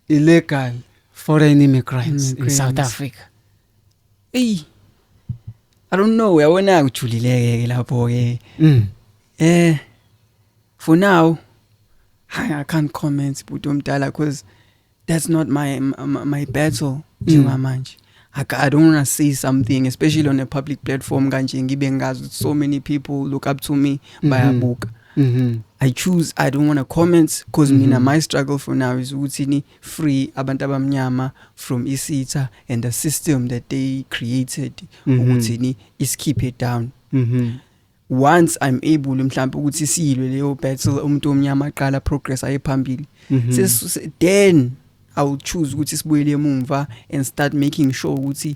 illegal foreign immigrants in south africa eyi I don't know uyabona kujulileke ke lapho ke mm. eh for now I can't comment bhuti omdala because that's not my my, my battle njengamanje mm. I, I don't want to say something especially on a public platform kanje ngibe ngazi so many people look up to me mm-hmm. bayabuka mm -hmm. I choose I don't want to comment because mm -hmm. mina mm-hmm. my struggle for now is ukuthi ni free abantu abamnyama from isitha and the system that they created mm -hmm. ukuthi ni isikhiphe down mm -hmm. once i'm able mhlawumbe ukuthi siyilwe leyo battle umuntu omnyama aqala progress ayephambili mm -hmm. then i will choose ukuthi sibuyele emumva and start making sure ukuthi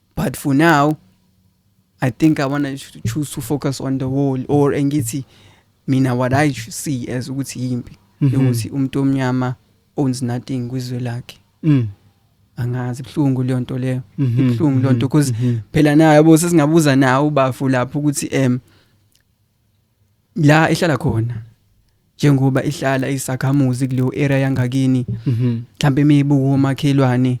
but for now i think i want to choose to focus on the wall or engithi mina what i see as ukuthi yimpi mhm. ukuthi umuntu omnyama owns nothing kwizwe lakhe mm. angazi buhlungu leyo nto leyo mhm. buhlungu leyo nto mhm. because phela nayo yabo sesingabuza nawo ubafu lapho ukuthi em la ehlala khona njengoba ihlala isakhamuzi kuleyo area yangakini mhlambe imibuko omakhelwane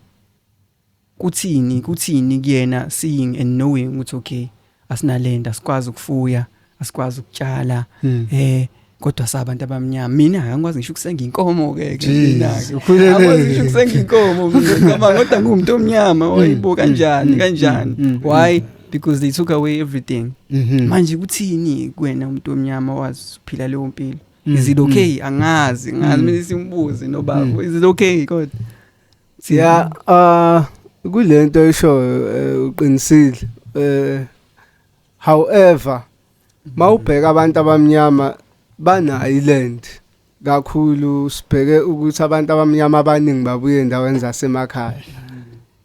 Kuthini, kuthini kuyena seeing and knowing ukuthi okay asinalenda sikwazi ukufuya, asikwazi ukutshala hmm. eh kodwa sabantu abamnyama mina angikwazi ngisho ukusenga inkomo ke ke mina ke angikwazi ngisho ukusenga inkomo ngizama kodwa ngumntu omnyama hmm. oyibo kanjani hmm. kanjani hmm. why because they took away everything mm-hmm. manje kuthini kuwena umuntu omnyama wazi uphila leyo mpilo is it okay angazi ngazi mina simbuzi nobaba is it okay kodwa Yeah, uh kulento eshoyo eh, uqinisile. Eh however mawubheka abantu abamnyama banayo iland kakhulu sibheke ukuthi abantu abamnyama abaningi babuye endaweni zasemakhaya.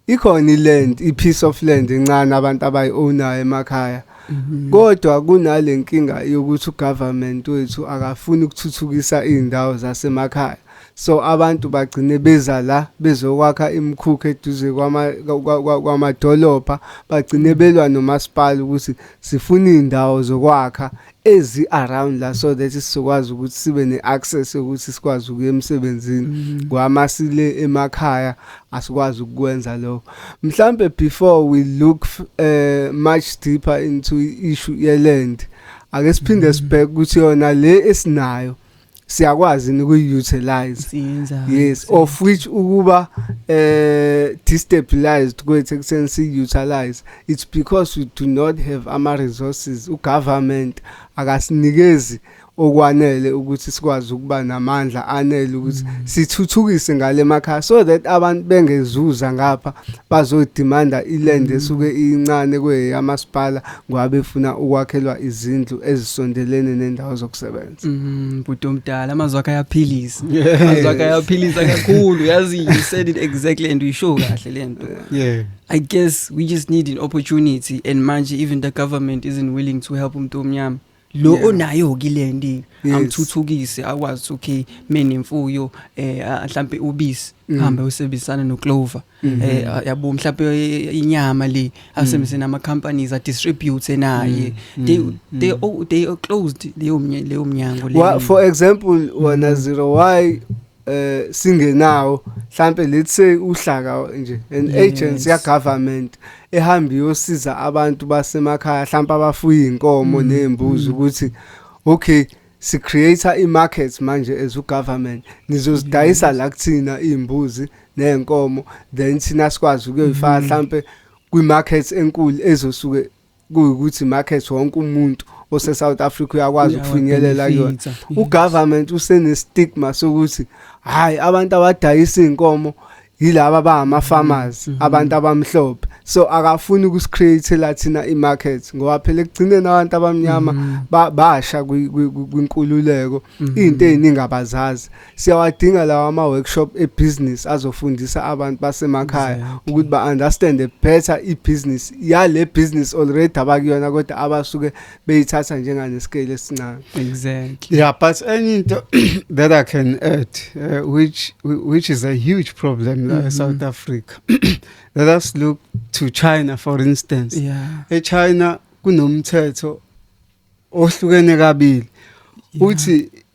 Ikhona iland, ipiece of land encane abantu abayi-ownayo emakhaya. Mhm. Kodwa kunalenkinga yokuthi ugovernment wethu akafuni ukuthuthukisa izindawo zasemakhaya. so abantu bagcine beza la bezokwakha imikhukhu eduze kwamadolobha bagcine belwa nomasipala ukuthi sifuna iy'ndawo zokwakha ezi-around la so that sizokwazi ukuthi sibe ne-access yokuthi sikwazi ukuya emsebenzini mm-hmm. kwama sile emakhaya asikwazi ukukwenza lokho mhlambe before we look uh, much deeper into issue yeland ake siphinde mm-hmm. sibheke ukuthi yona le esinayo siyakwazi nikuyi-utilize Siyenza. yes of which ukuba eh destabilized kwethu ekuseni siyi-utilize it's because we do not have ama-resources ugovernment akasinikezi okwanele ukuthi sikwazi ukuba namandla anele ukuthi sithuthukise ngale makhaya so that abantu bengezuza ngapha bazodimanda iland esuke incane kweyamasipala ngoba befuna ukwakhelwa izindlu ezisondelene nendawo zokusebenza Mm, bhuti omdala amazwi akhe ayaphilisa amazwi akhe ayaphilisa kakhulu yazi you said it exactly and uyisho kahle le nto yeah i guess we just need an opportunity and manje even the government isn't willing to help umuntu omnyama lo Yeah. onayo kile ndi Yes. amthuthukise akwazi ukuthi, okay mina imfuyo eh ah, mhlambe ubisi Mm. hambe usebenzisana noclover Mhm. eh yabo mhlawumbe eh, inyama le asemseni mhm. ama companies a distribute naye mhm. they they all they are closed leyo leyo mnyango le for example wana zero why eh singenawo mhlambe let's say uhlaka nje an agency ya government ehamba iyosiza abantu basemakhaya mhlawumbe abafuya inkomo mm. nezimbuzi ukuthi okay si creator i markets manje as u government nizozidayisa la kuthina izimbuzi nezinkomo then sina sikwazi ukuyifaka mm. mhlambe kwi markets enkulu ezosuke kuyukuthi markets wonke umuntu ose South Africa uyakwazi ukufinyelela kuyona u government usene stigma sokuthi hayi abantu abadayisa izinkomo yilaba ba ama farmers mm -hmm. abantu abamhlophe so akafuni ukusikhreate la thina imarket ngoba phela ekugcineni abantu abamnyama mm -hmm. basha kwinkululeko mm -hmm. into eziningi abazazi siyawadinga lawa ama workshop e business azofundisa abantu basemakhaya exactly. ukuthi ba understand better i business yale business already abakuyona kodwa abasuke beyithatha njenganescale esincane exactly yeah but enye into that i can add uh, which which is a huge problem mm -hmm. in south africa let us look to china for instance yeah. echina kunomthetho ohlukene kabili uthi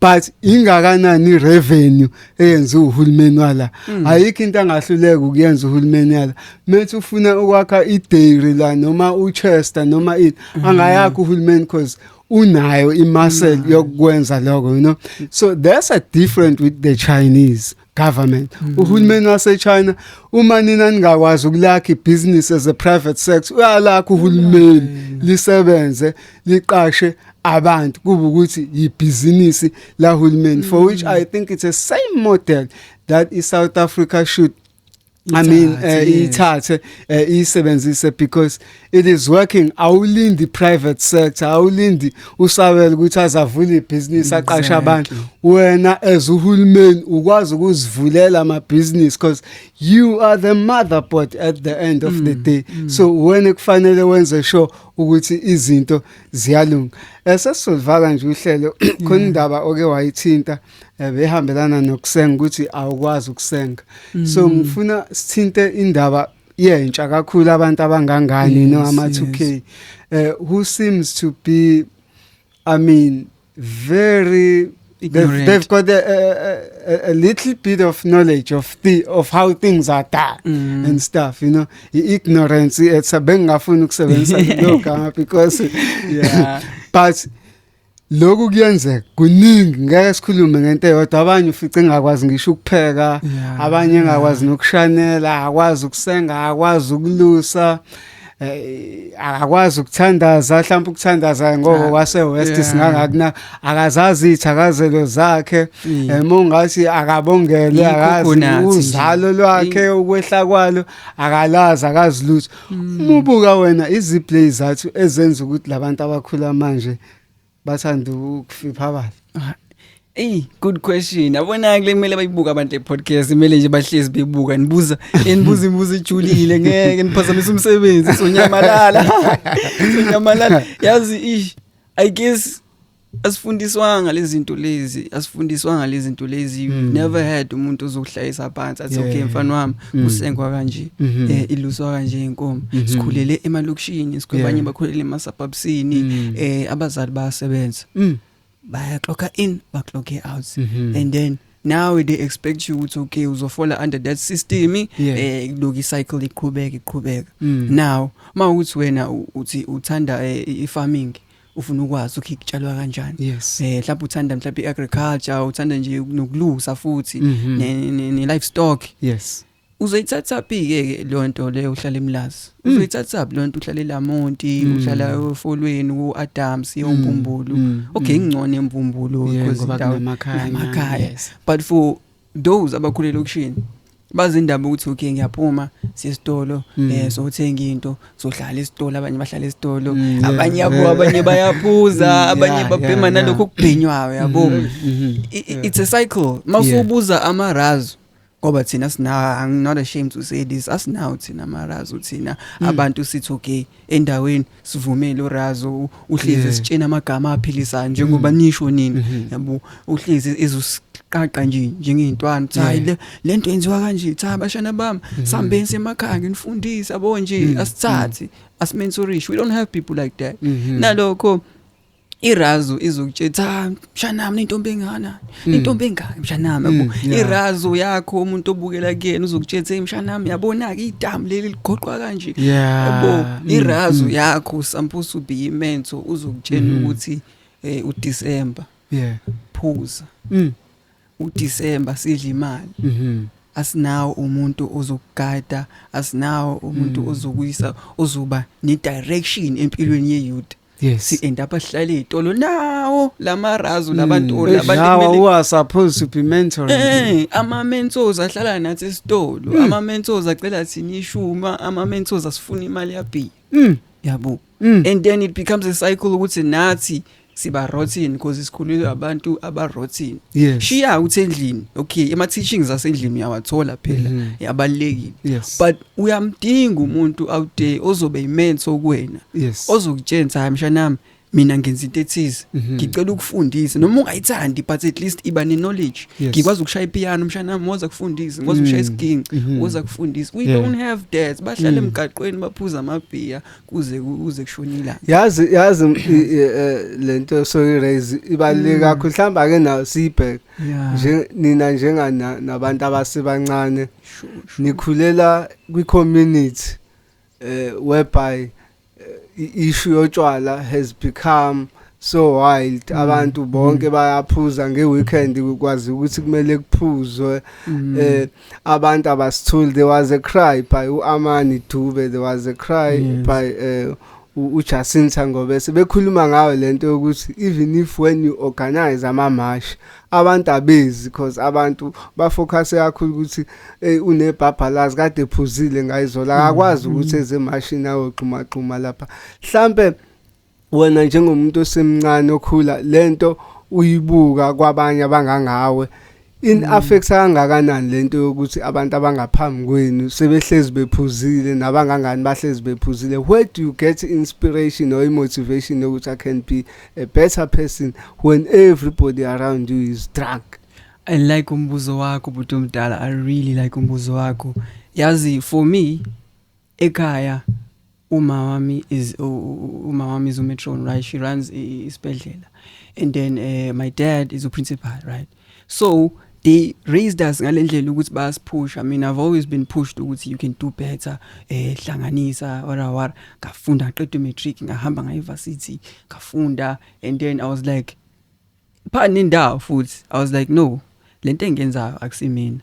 but ingakanani revenue eyenza uhulumeni wala mm. ayikho into angahluleka ukuyenza uhulumeni yala methi ufuna ukwakha idairy la noma uchester noma ini mm. angayakho uhulumeni because unayo imuscle yokwenza lokho you know so there's a different with the chinese government mm -hmm. uhulumeni waseChina uma nina ningakwazi ukulakha ibusiness as a private sector uyalakha uhulumeni mm -hmm. lisebenze liqashe abantu kuba ukuthi yibhizinisi lahulumeni mm -hmm. for which mm. i think it's a same model that i South Africa should I mean uh, ithathe uh, isebenzise because it is working awulindi private sector awulindi usabela ukuthi azavule ibusiness aqashe abantu wena as uhulumeni ukwazi ukuzivulela ama business because you are the motherboard at the end of mm, the day mm. so wena kufanele wenze sure ukuthi izinto ziyalunga esesizolivaka nje uhlelo khona indaba oke wayithinta eh, behambelana nokusenga ukuthi awukwazi ukusenga so mm. ngifuna sithinte indaba yentsha kakhulu abantu abangangani yes, no ama 2K yes. uh, who seems to be I mean very They've, they've, got a, a, a, little bit of knowledge of the of how things are done mm. and stuff, you know. Ignorance, it's a bengafunu kusebenzisa lokho because yeah. but lokhu kuyenzeka kuningi ngeke sikhulume ngento eyodwa abanye ufice engakwazi ngisho ukupheka abanye engakwazi nokushanela akwazi ukusenga akwazi ukulusa eh, akakwazi ukuthandaza mhlawumbe ukuthandaza ngoba ah, wase-west singangakuna akazazi iy'thakazelo zakhe um eh, ungathi akabongele akazi uzalo lwakhe ukwehla kwalo akalazi akazi lutho mm. umubuka wena iziplay zathu ezenza ukuthi labantu abakhula manje bathanda ukufipha abantu ah, Ey good question. Abona kule kumele bayibuka abantu le podcast imele nje bahlezi bebuka nibuza enibuza imibuzo ejulile ngeke niphazamise umsebenzi sonyamalala. Sonyamalala. Yazi ish I guess asifundiswanga lezinto lezi asifundiswanga lezinto lezi mm. never had umuntu ozokuhlayisa phansi athi yeah. okay mfana wami mm. kusengwa kanje mm -hmm. eh iluswa kanje inkomo mm -hmm. sikhulele emalokishini sikhulele yeah. bakhulele ema suburbsini mm. eh abazali bayasebenza mm. baya clock in ba clock out mm -hmm. and then now they expect you ukuthi okay uzofola under that system yeah. eh loku cycle iqhubeka iqhubeka mm. now mawuthi wena uthi uthanda eh, i farming ufuna ukwazi ukuthi kutshalwa kanjani yes eh mhlawumbe uthanda mhlawumbe iagriculture uthanda nje nokulusa futhi Mhm. ne, ne, ne livestock yes uzoyithatha phi ke le nto leyo uhlala emlazi Mm. uzoyithatha phi le nto uhlala elamonti Mm. uhlala ofolweni uAdams yombumbulu Mm, okay mm. ngcono embumbulu Yeah, because ngoba indawo kunamakhaya, inamakhaya. yes. but for those abakhule lokishini bazindaba ukuthi okay ngiyaphuma sesitolo hmm. eh sothenga into sohlala esitolo abanye bahlala esitolo hmm, abanye yabo abanye bayaphuza hmm, abanye babhema nalokho ukubhenywayo yabo it's a cycle masubuza amarazo ngoba thina sina I'm not ashamed to say this asinawo thina amarazo thina abantu sithi okay endaweni sivumele urazo uhlezi sitshena amagama aphilisayo njengoba mm. nisho nini mm-hmm. yabo uhlezi ezusiqaqa nje njengeyintwana cha le lento yenziwa kanje cha bashana bami mm-hmm. sambeni semakhaya nginifundisa yabo nje mm. asithathi mm. asimensurishe we don't have people like that nalokho irazu izokutshela ah mshanami intombi engana hmm. intombi engaka mshanami yabo hmm, irazu yakho umuntu obukela kuyena uzokutshela hey mshanami yabona ke idamu leli ligoqwa kanje yabo hmm, irazu yakho sampusu be imento uzokutshela ukuthi eh uDecember yeah phuza uDecember sidla imali mhm asinawo umuntu ozokugada asinawo umuntu ozokuyisa ozoba ne direction empilweni ye youth Yes. Si end up ahlale izitolo nawo lamarazu hmm. labantu labantu. Nawo who are supposed to be mentoring. Eh, ama mentors ahlala nathi esitolo. Hmm. Ama mentors acela thini ishuma, ama mentors asifuna imali yabi. Mm. Yabo. Hmm. And then it becomes a cycle ukuthi nathi siba rotten because sikhulelwe abantu aba rotten yes. shiya uthi endlini okay ama teachings asendlini uyawathola phela mm -hmm. yabalekile yes. but uyamdinga umuntu out there ozobe imense okuwena Yes. ozokutshentsa hayi mshanami mina ngenza into ethize Mhm. ngicela ukufundisa noma ungayithandi but at least iba ne knowledge Yes. Mm. ngikwazi ukushaya ipiano mshanami ngoza kufundisa ngikwazi ukushaya isiginci Mhm. ngoza kufundisa we Yeah. don't have that bahlale Mm. emgaqweni baphuza amabhiya kuze kuze kushone ilanga yazi yazi m- i- i- eh, lento soyi raise ibaluleke Mm. kakhulu mhlawumbe ake nayo siyibheke Yeah. nje nina njengana nabantu abasebancane ngikhulela kwi-community eh whereby eh, i-issue yotshwala has become so wild mm. abantu mm. bonke bayaphuza ngeweekend kwazi ukuthi kumele kuphuzwe mm. eh abantu abasithuli there was a cry by uAmani Dube there was a cry yes. by eh uJacinta ngobe sebekhuluma ngayo lento yokuthi even if when you organize ama march abantu abezi because abantu bafocus kakhulu ukuthi hey unebhabhalazi kade phuzile ngayizola mm, akakwazi mm. ukuthi eze mashini ayogxuma gxuma lapha mhlambe wena njengomuntu osemncane okhula lento uyibuka kwabanye abangangawe in mm. affects kangakanani lento yokuthi abantu abangaphambi kwenu sebehlezi bephuzile nabangangani bahlezi bephuzile where do you get inspiration or motivation yokuthi i can be a better person when everybody around you is drunk i like umbuzo wakho bhuti omdala i really like umbuzo wakho yazi for me ekhaya uma wami is uma wami is umetron right she runs isibhedlela and then uh, my dad is uprincipal right so they raised us ngalendlela ukuthi bayasiphusha mina i've always been pushed ukuthi you can do better eh hlanganisa wara wara ngafunda ngaqeda matric ngahamba ngaye varsity ngafunda and then i was like pha nendawo futhi i was like no lento engenzayo akusimina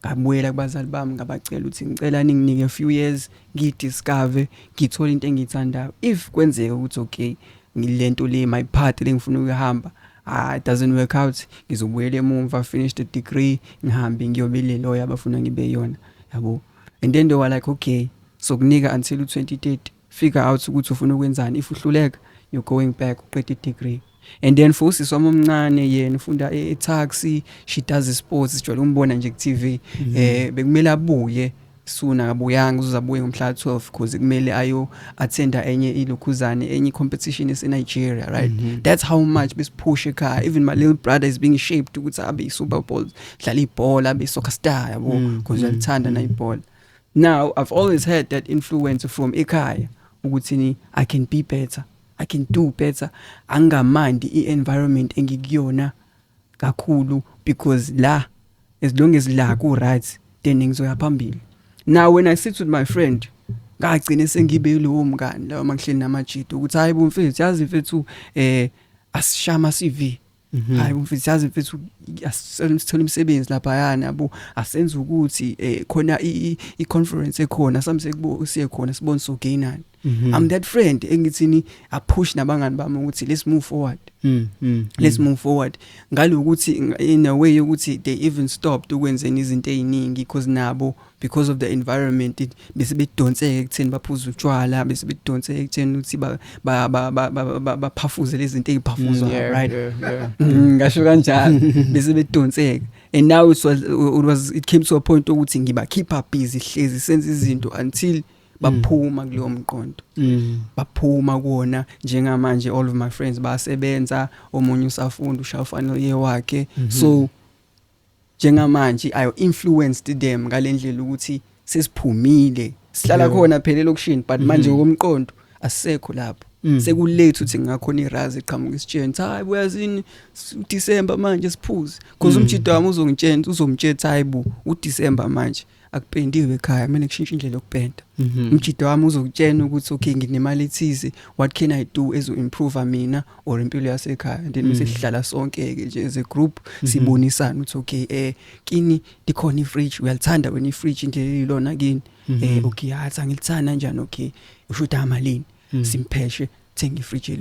Ngabuyela kubazali bami ngabacela ukuthi ngicela ninginike a few years ngidiscover ngithole into engiyithandayo. If kwenzeka ukuthi okay ngilento le my path lengifuna ukuyihamba ah it doesn't work out ngizobuyela emumva finish the degree ngihambe ngiyobe le lawyer abafuna ngibe yona yabo and then they were like okay sokunika until 2030 figure out ukuthi ufuna ukwenzani if uhluleka you're going back uqeda i-degree and then for usisi wami omncane yena ufunda e-taxi she does sports sijwayele umbona nje ku-tv um mhm. eh, bekumele abuye suna kabuyanga uzozabuye ngomhla 12 because kumele ayo attenda enye ilokhuzane enye competition ese Nigeria right mm -hmm. that's how much besipush ekhaya even my little brother is being shaped ukuthi abe i Super Bowl dlala ibhola abe soccer star yabo because mm -hmm. uyalithanda mm -hmm. na ibhola now i've always heard that influence from ekhaya ukuthini i can be better i can do better angamandi i-environment engikuyona kakhulu because la as long as la ku right then ngizoya phambili now when i sit with my friend ngagcine sengibe yilowo mngani lawo mangihleli namajita ukuthi hayi bomfethu yazi mfethu eh asishama CV Mhm. hayi mfethu yazi mfethu asicela sithola imisebenzi lapha yana yabo asenze ukuthi eh khona i i conference ekhona samse kubo siye khona sibone so gainani mhm. i'm that friend engithini a push nabangani bami ukuthi let's move forward Mm, mm, let's mm. move forward ngalokuthi in a way ukuthi they even stopped ukwenzeni izinto eziningi because nabo because of the environment bese bedonseke ekutheni baphuza utshwala bese bedonseke ekutheni ukuthi ba baphafuze lezi zinto eziphafuzwa mm, right mm, ngasho kanjalo bese bedonseke and now it was, it was it came to a point ukuthi ngiba keep up busy hlezi senza izinto until mm. baphuma kuleyo mqondo baphuma kuona njengamanje all of my friends basebenza omunye usafunda ushafana yewakhe mm-hmm. so njengamanje i influenced them ngalendlela ukuthi sesiphumile sihlala khona phela elokushini but manje mm-hmm. ngokomqondo asekho lapho mm. sekulate uthi ngakhona irazi eqhamuka isitsheni cha hayi uyazini uDecember manje siphuze because mm. umjito wami uzongitshena uzomtshela hayi bu uDecember manje akupendiwe ekhaya mina kushintsha indlela yokupenda mhm. umjida wami uzokutshena ukuthi okay nginemali ethize what can i do as improve mina or impilo yasekhaya and then mhm. sihlala sonke ke nje as a group mhm. sibonisana ukuthi okay eh kini dikhona ifridge uyalithanda wena ifridge into elilona kini eh okay yathi angilithanda kanjani okay usho ukuthi amalini simpheshe thenga ifridge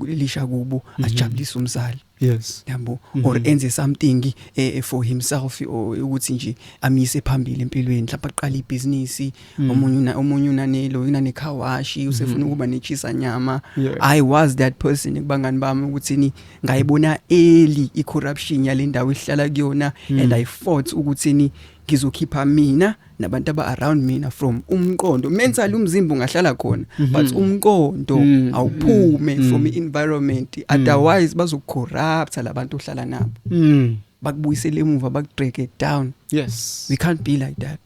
elisha kubo ajabulise umzali yes yabo mm -hmm. or enze something eh, eh for himself ukuthi nje amise phambili empilweni mhlawumbe aqale ibhizinisi mm. omunye una omunye unanelo inane car wash mm-hmm. usefuna mm -hmm. ukuba nechisa nyama yeah. i was that person kubangani bami ukuthi ni ngayibona early i corruption yalendawo ihlala kuyona mm. and i fought ukuthi ni ngizokhipha mina nabantu aba around mina from umqondo mentally umzimba ungahlala khona mhm. but umqondo mm. awuphume mm. from environment mm. otherwise bazokucorrupt labantu ohlala nabo bakubuyisele emuva bakudreke down yes we can't be like that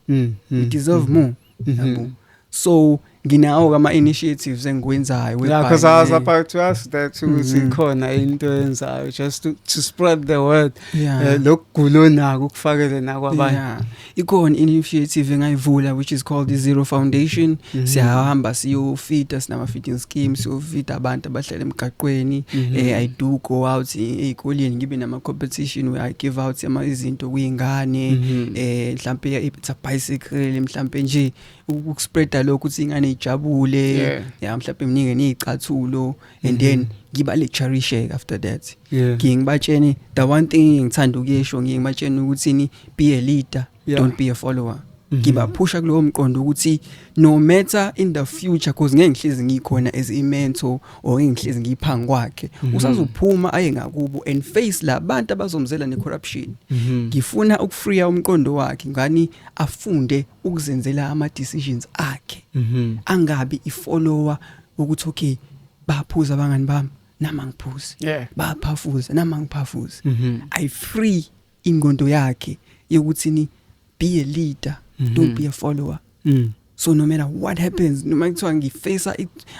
we deserve more mm-hmm. yabo so nginawo ke ama-initiatives engiwenzayo yeah, because I was about to ask that ukuthi mm-hmm. ikhona into enzayo just to, to spread the word eh, lokugula onako ukufakele nakwabanye ikhona initiative engayivula which is called the zero foundation mm-hmm. siyahamba siyofita sinama-feeding scheme siyofita abantu abahlala emgaqweni mm-hmm. eh, i do go out ey'koleni ngibe nama-competition where i give out izinto kwiy'ngane um mhlawumpe it's a bicycle mhlawumpe nje ukuspreada lokho ukuthi ingane ijabule yeah. yeah mhlawumbe mningi nezicathulo and then mm-hmm. ngiba le cherish after that yeah. ngibatshene the one thing ngithanda ukuyesho ngibatshene ukuthi ni be a leader yeah. don't be a follower mm-hmm. ngibaphusha mm -hmm. kulowo mqondo ukuthi no matter in the future cause ngeke ngihlezi ngikhona as a mentor or ngeke ngihlezi ngiphangi kwakhe mm -hmm. usazophuma aye ngakubo and face labantu abazomzela ne corruption mm -hmm. ngifuna ukufreeya umqondo wakhe ngani afunde ukuzenzela ama decisions akhe mhm. angabi ifollower ukuthi okay baphuza abangani bami nama ngiphuze yeah. baphafuza nama ngiphafuze mm -hmm. i free ingondo yakhe yokuthi ni be a leader mm -hmm. don't be a follower mm. so no matter what happens noma kuthiwa ngifesa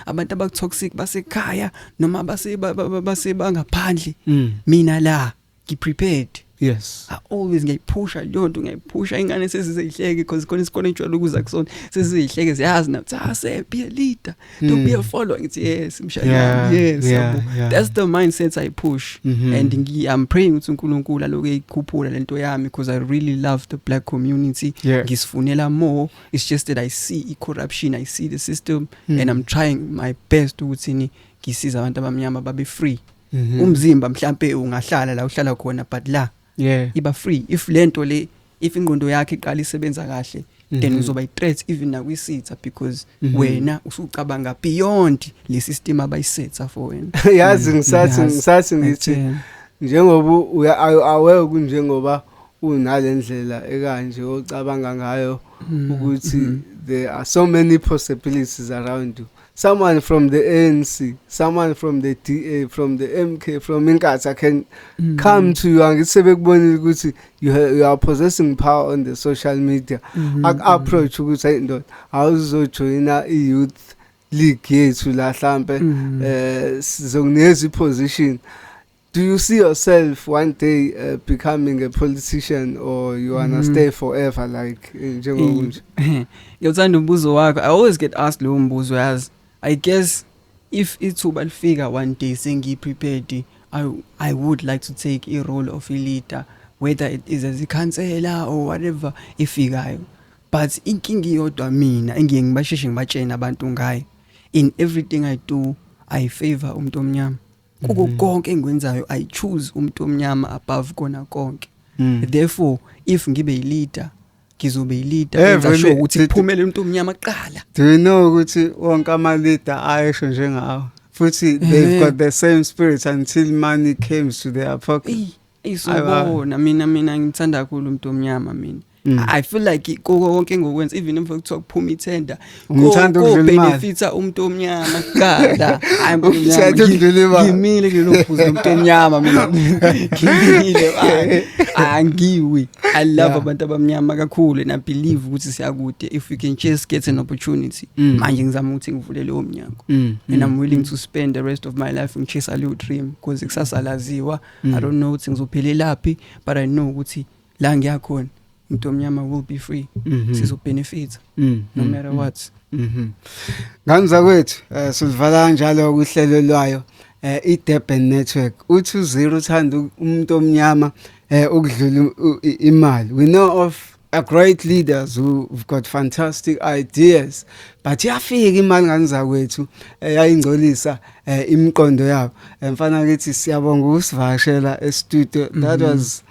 abantu abakutoxic basekhaya noma base base bangaphandle mm. mina la ngi prepared yes i always ngiyayiphusha leyo nto ngiyayiphusha ingane sezizeyihleke because khona isikole ejwayele ukuza kusona sezizeyihleke ziyazi na cha se be a leader to be a hmm. follower ngithi yes mshayeli yeah, yes yeah, yabo yeah. that's the mindset i push mm -hmm. and ngi i'm praying ukuthi uNkulunkulu aloke ikhuphula lento yami because i really love the black community yeah. ngisifunela more it's just that i see i corruption i see the system mm. and i'm trying my best ukuthi ni ngisiza abantu abamnyama babe free Mhm. umzimba mhlambe ungahlala la uhlala khona but la yeah iba free if lento le if ingqondo yakhe iqala isebenza kahle then Mhm. uzoba i-threat even nakwisitha because Mhm. wena usucabanga beyond le system abayisetha for wena yazi ngisathi Yazi. ngisathi ngithi Ngitshela. njengoba uya awu- aware kunjengoba unale ndlela ekanje ocabanga ngayo Mhm. ukuthi Mhm. there are so many possibilities around you someone from the ANC someone from the DA from the MK from Inkatha can mm. come to you angithi sebekubonile ukuthi you, you are possessing power on the social media mm -hmm. ak mm-hmm. approach ukuthi hey ndoda awuzojoyina i youth league yethu la hlambe mm-hmm. eh sizokunikeza i position Do you see yourself one day uh, becoming a politician or you wanna mm. stay forever like eh, njengokunje? Ngiyawuthanda umbuzo wakho. I always get asked lo mbuzo yazi. I guess if ithuba lifika one day sengi prepared I I would like to take a role of a leader whether it is as a counselor or whatever ifikayo. But inkinga iyodwa mina engiye ngibasheshe ngibatshene abantu ngayo. In everything I do I favor umuntu omnyama. kuko mhm. konke engikwenzayo i choose umuntu omnyama above kona konke mm. therefore if ngibe yileader ngizobe yileader eh, enza sure ukuthi kuphumele umuntu omnyama kuqala do you know ukuthi wonke ama leader ayesho njengawo futhi they've eh. got the same spirit until money came to their pocket isubona mina mina ngithanda kakhulu umuntu omnyama mina Mm. I feel like koko konke ngokwenza even if kuthiwa kuphuma ithenda ngithanda ukudlula imali benefitsa umuntu omnyama kuqala hayi umuntu omnyama ukudlula imali ngimile kulelo phuzu umuntu omnyama mina ngimile angiwi i love yeah. abantu abamnyama kakhulu and i believe ukuthi siyakude if we can just get an opportunity mm. manje ngizama ukuthi ngivule leyo mnyango mm. and i'm mm. willing to spend the rest of my life ngichase leyo dream because kusasa laziwa mm. i don't know ukuthi ngizophelelaphi but i know ukuthi la ngiyakhona umuntu omnyama will be free mm -hmm. sizobenefita mm -hmm. no matter mm-hmm. what mhm ngani zakwethu uh, sizivala kanjalo ukuhlelo lwayo eh uh, iDurban network uthi uzero uthanda umuntu omnyama eh ukudlula imali we know of a great leaders who've got fantastic ideas but yafika imali nganizakwethu eh, yayingcolisa eh, imiqondo yabo eh, mfana kithi siyabonga ukusivakashela e studio that mhm. was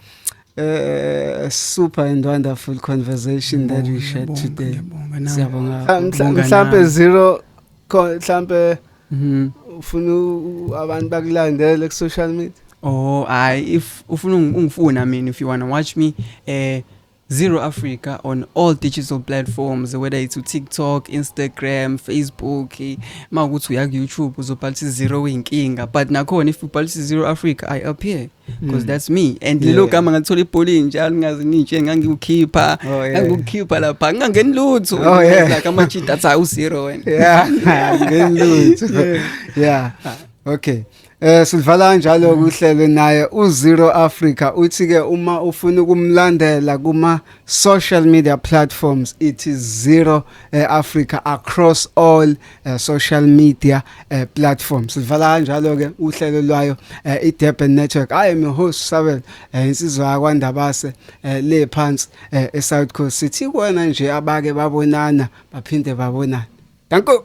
a super and wonderful conversation that we shared today siyabonga mhlambe 0 khona mhlambe Mhm. ufuna u- abantu bakulandele ku social media Oh, I if ufuna ungi- ungifuna mina if you want to watch me eh Zero Africa on all digital platforms whether it's u TikTok, Instagram, Facebook, eh, mawukuthi uya ku YouTube uzobhalisa zero inkinga but nakhona if ubhalisa zero Africa I appear. because mm. that's me and lelo yeah. gama ngalithola ibholini njalo ngazi ninje ngangiwukhipha oh, yeah. ngangiwukhipha lapha ngangeni lutho oh, yeah. like ama cheat that's how zero wena yeah ngeni lutho yeah okay Eh sivala njalo kuhlelo naye uZero Africa uthi ke uma ufuna ukumlandela kuma social media platforms it is Zero eh, Africa across all uh, social media uh, platform sivala kanjalo ke uhlelo lwayo uh, eh, iDurban Network i am your host Sabel uh, insizwa yakwandabase uh, le phansi uh, eSouth Coast sithi kona nje abake babonana baphinde babonana danko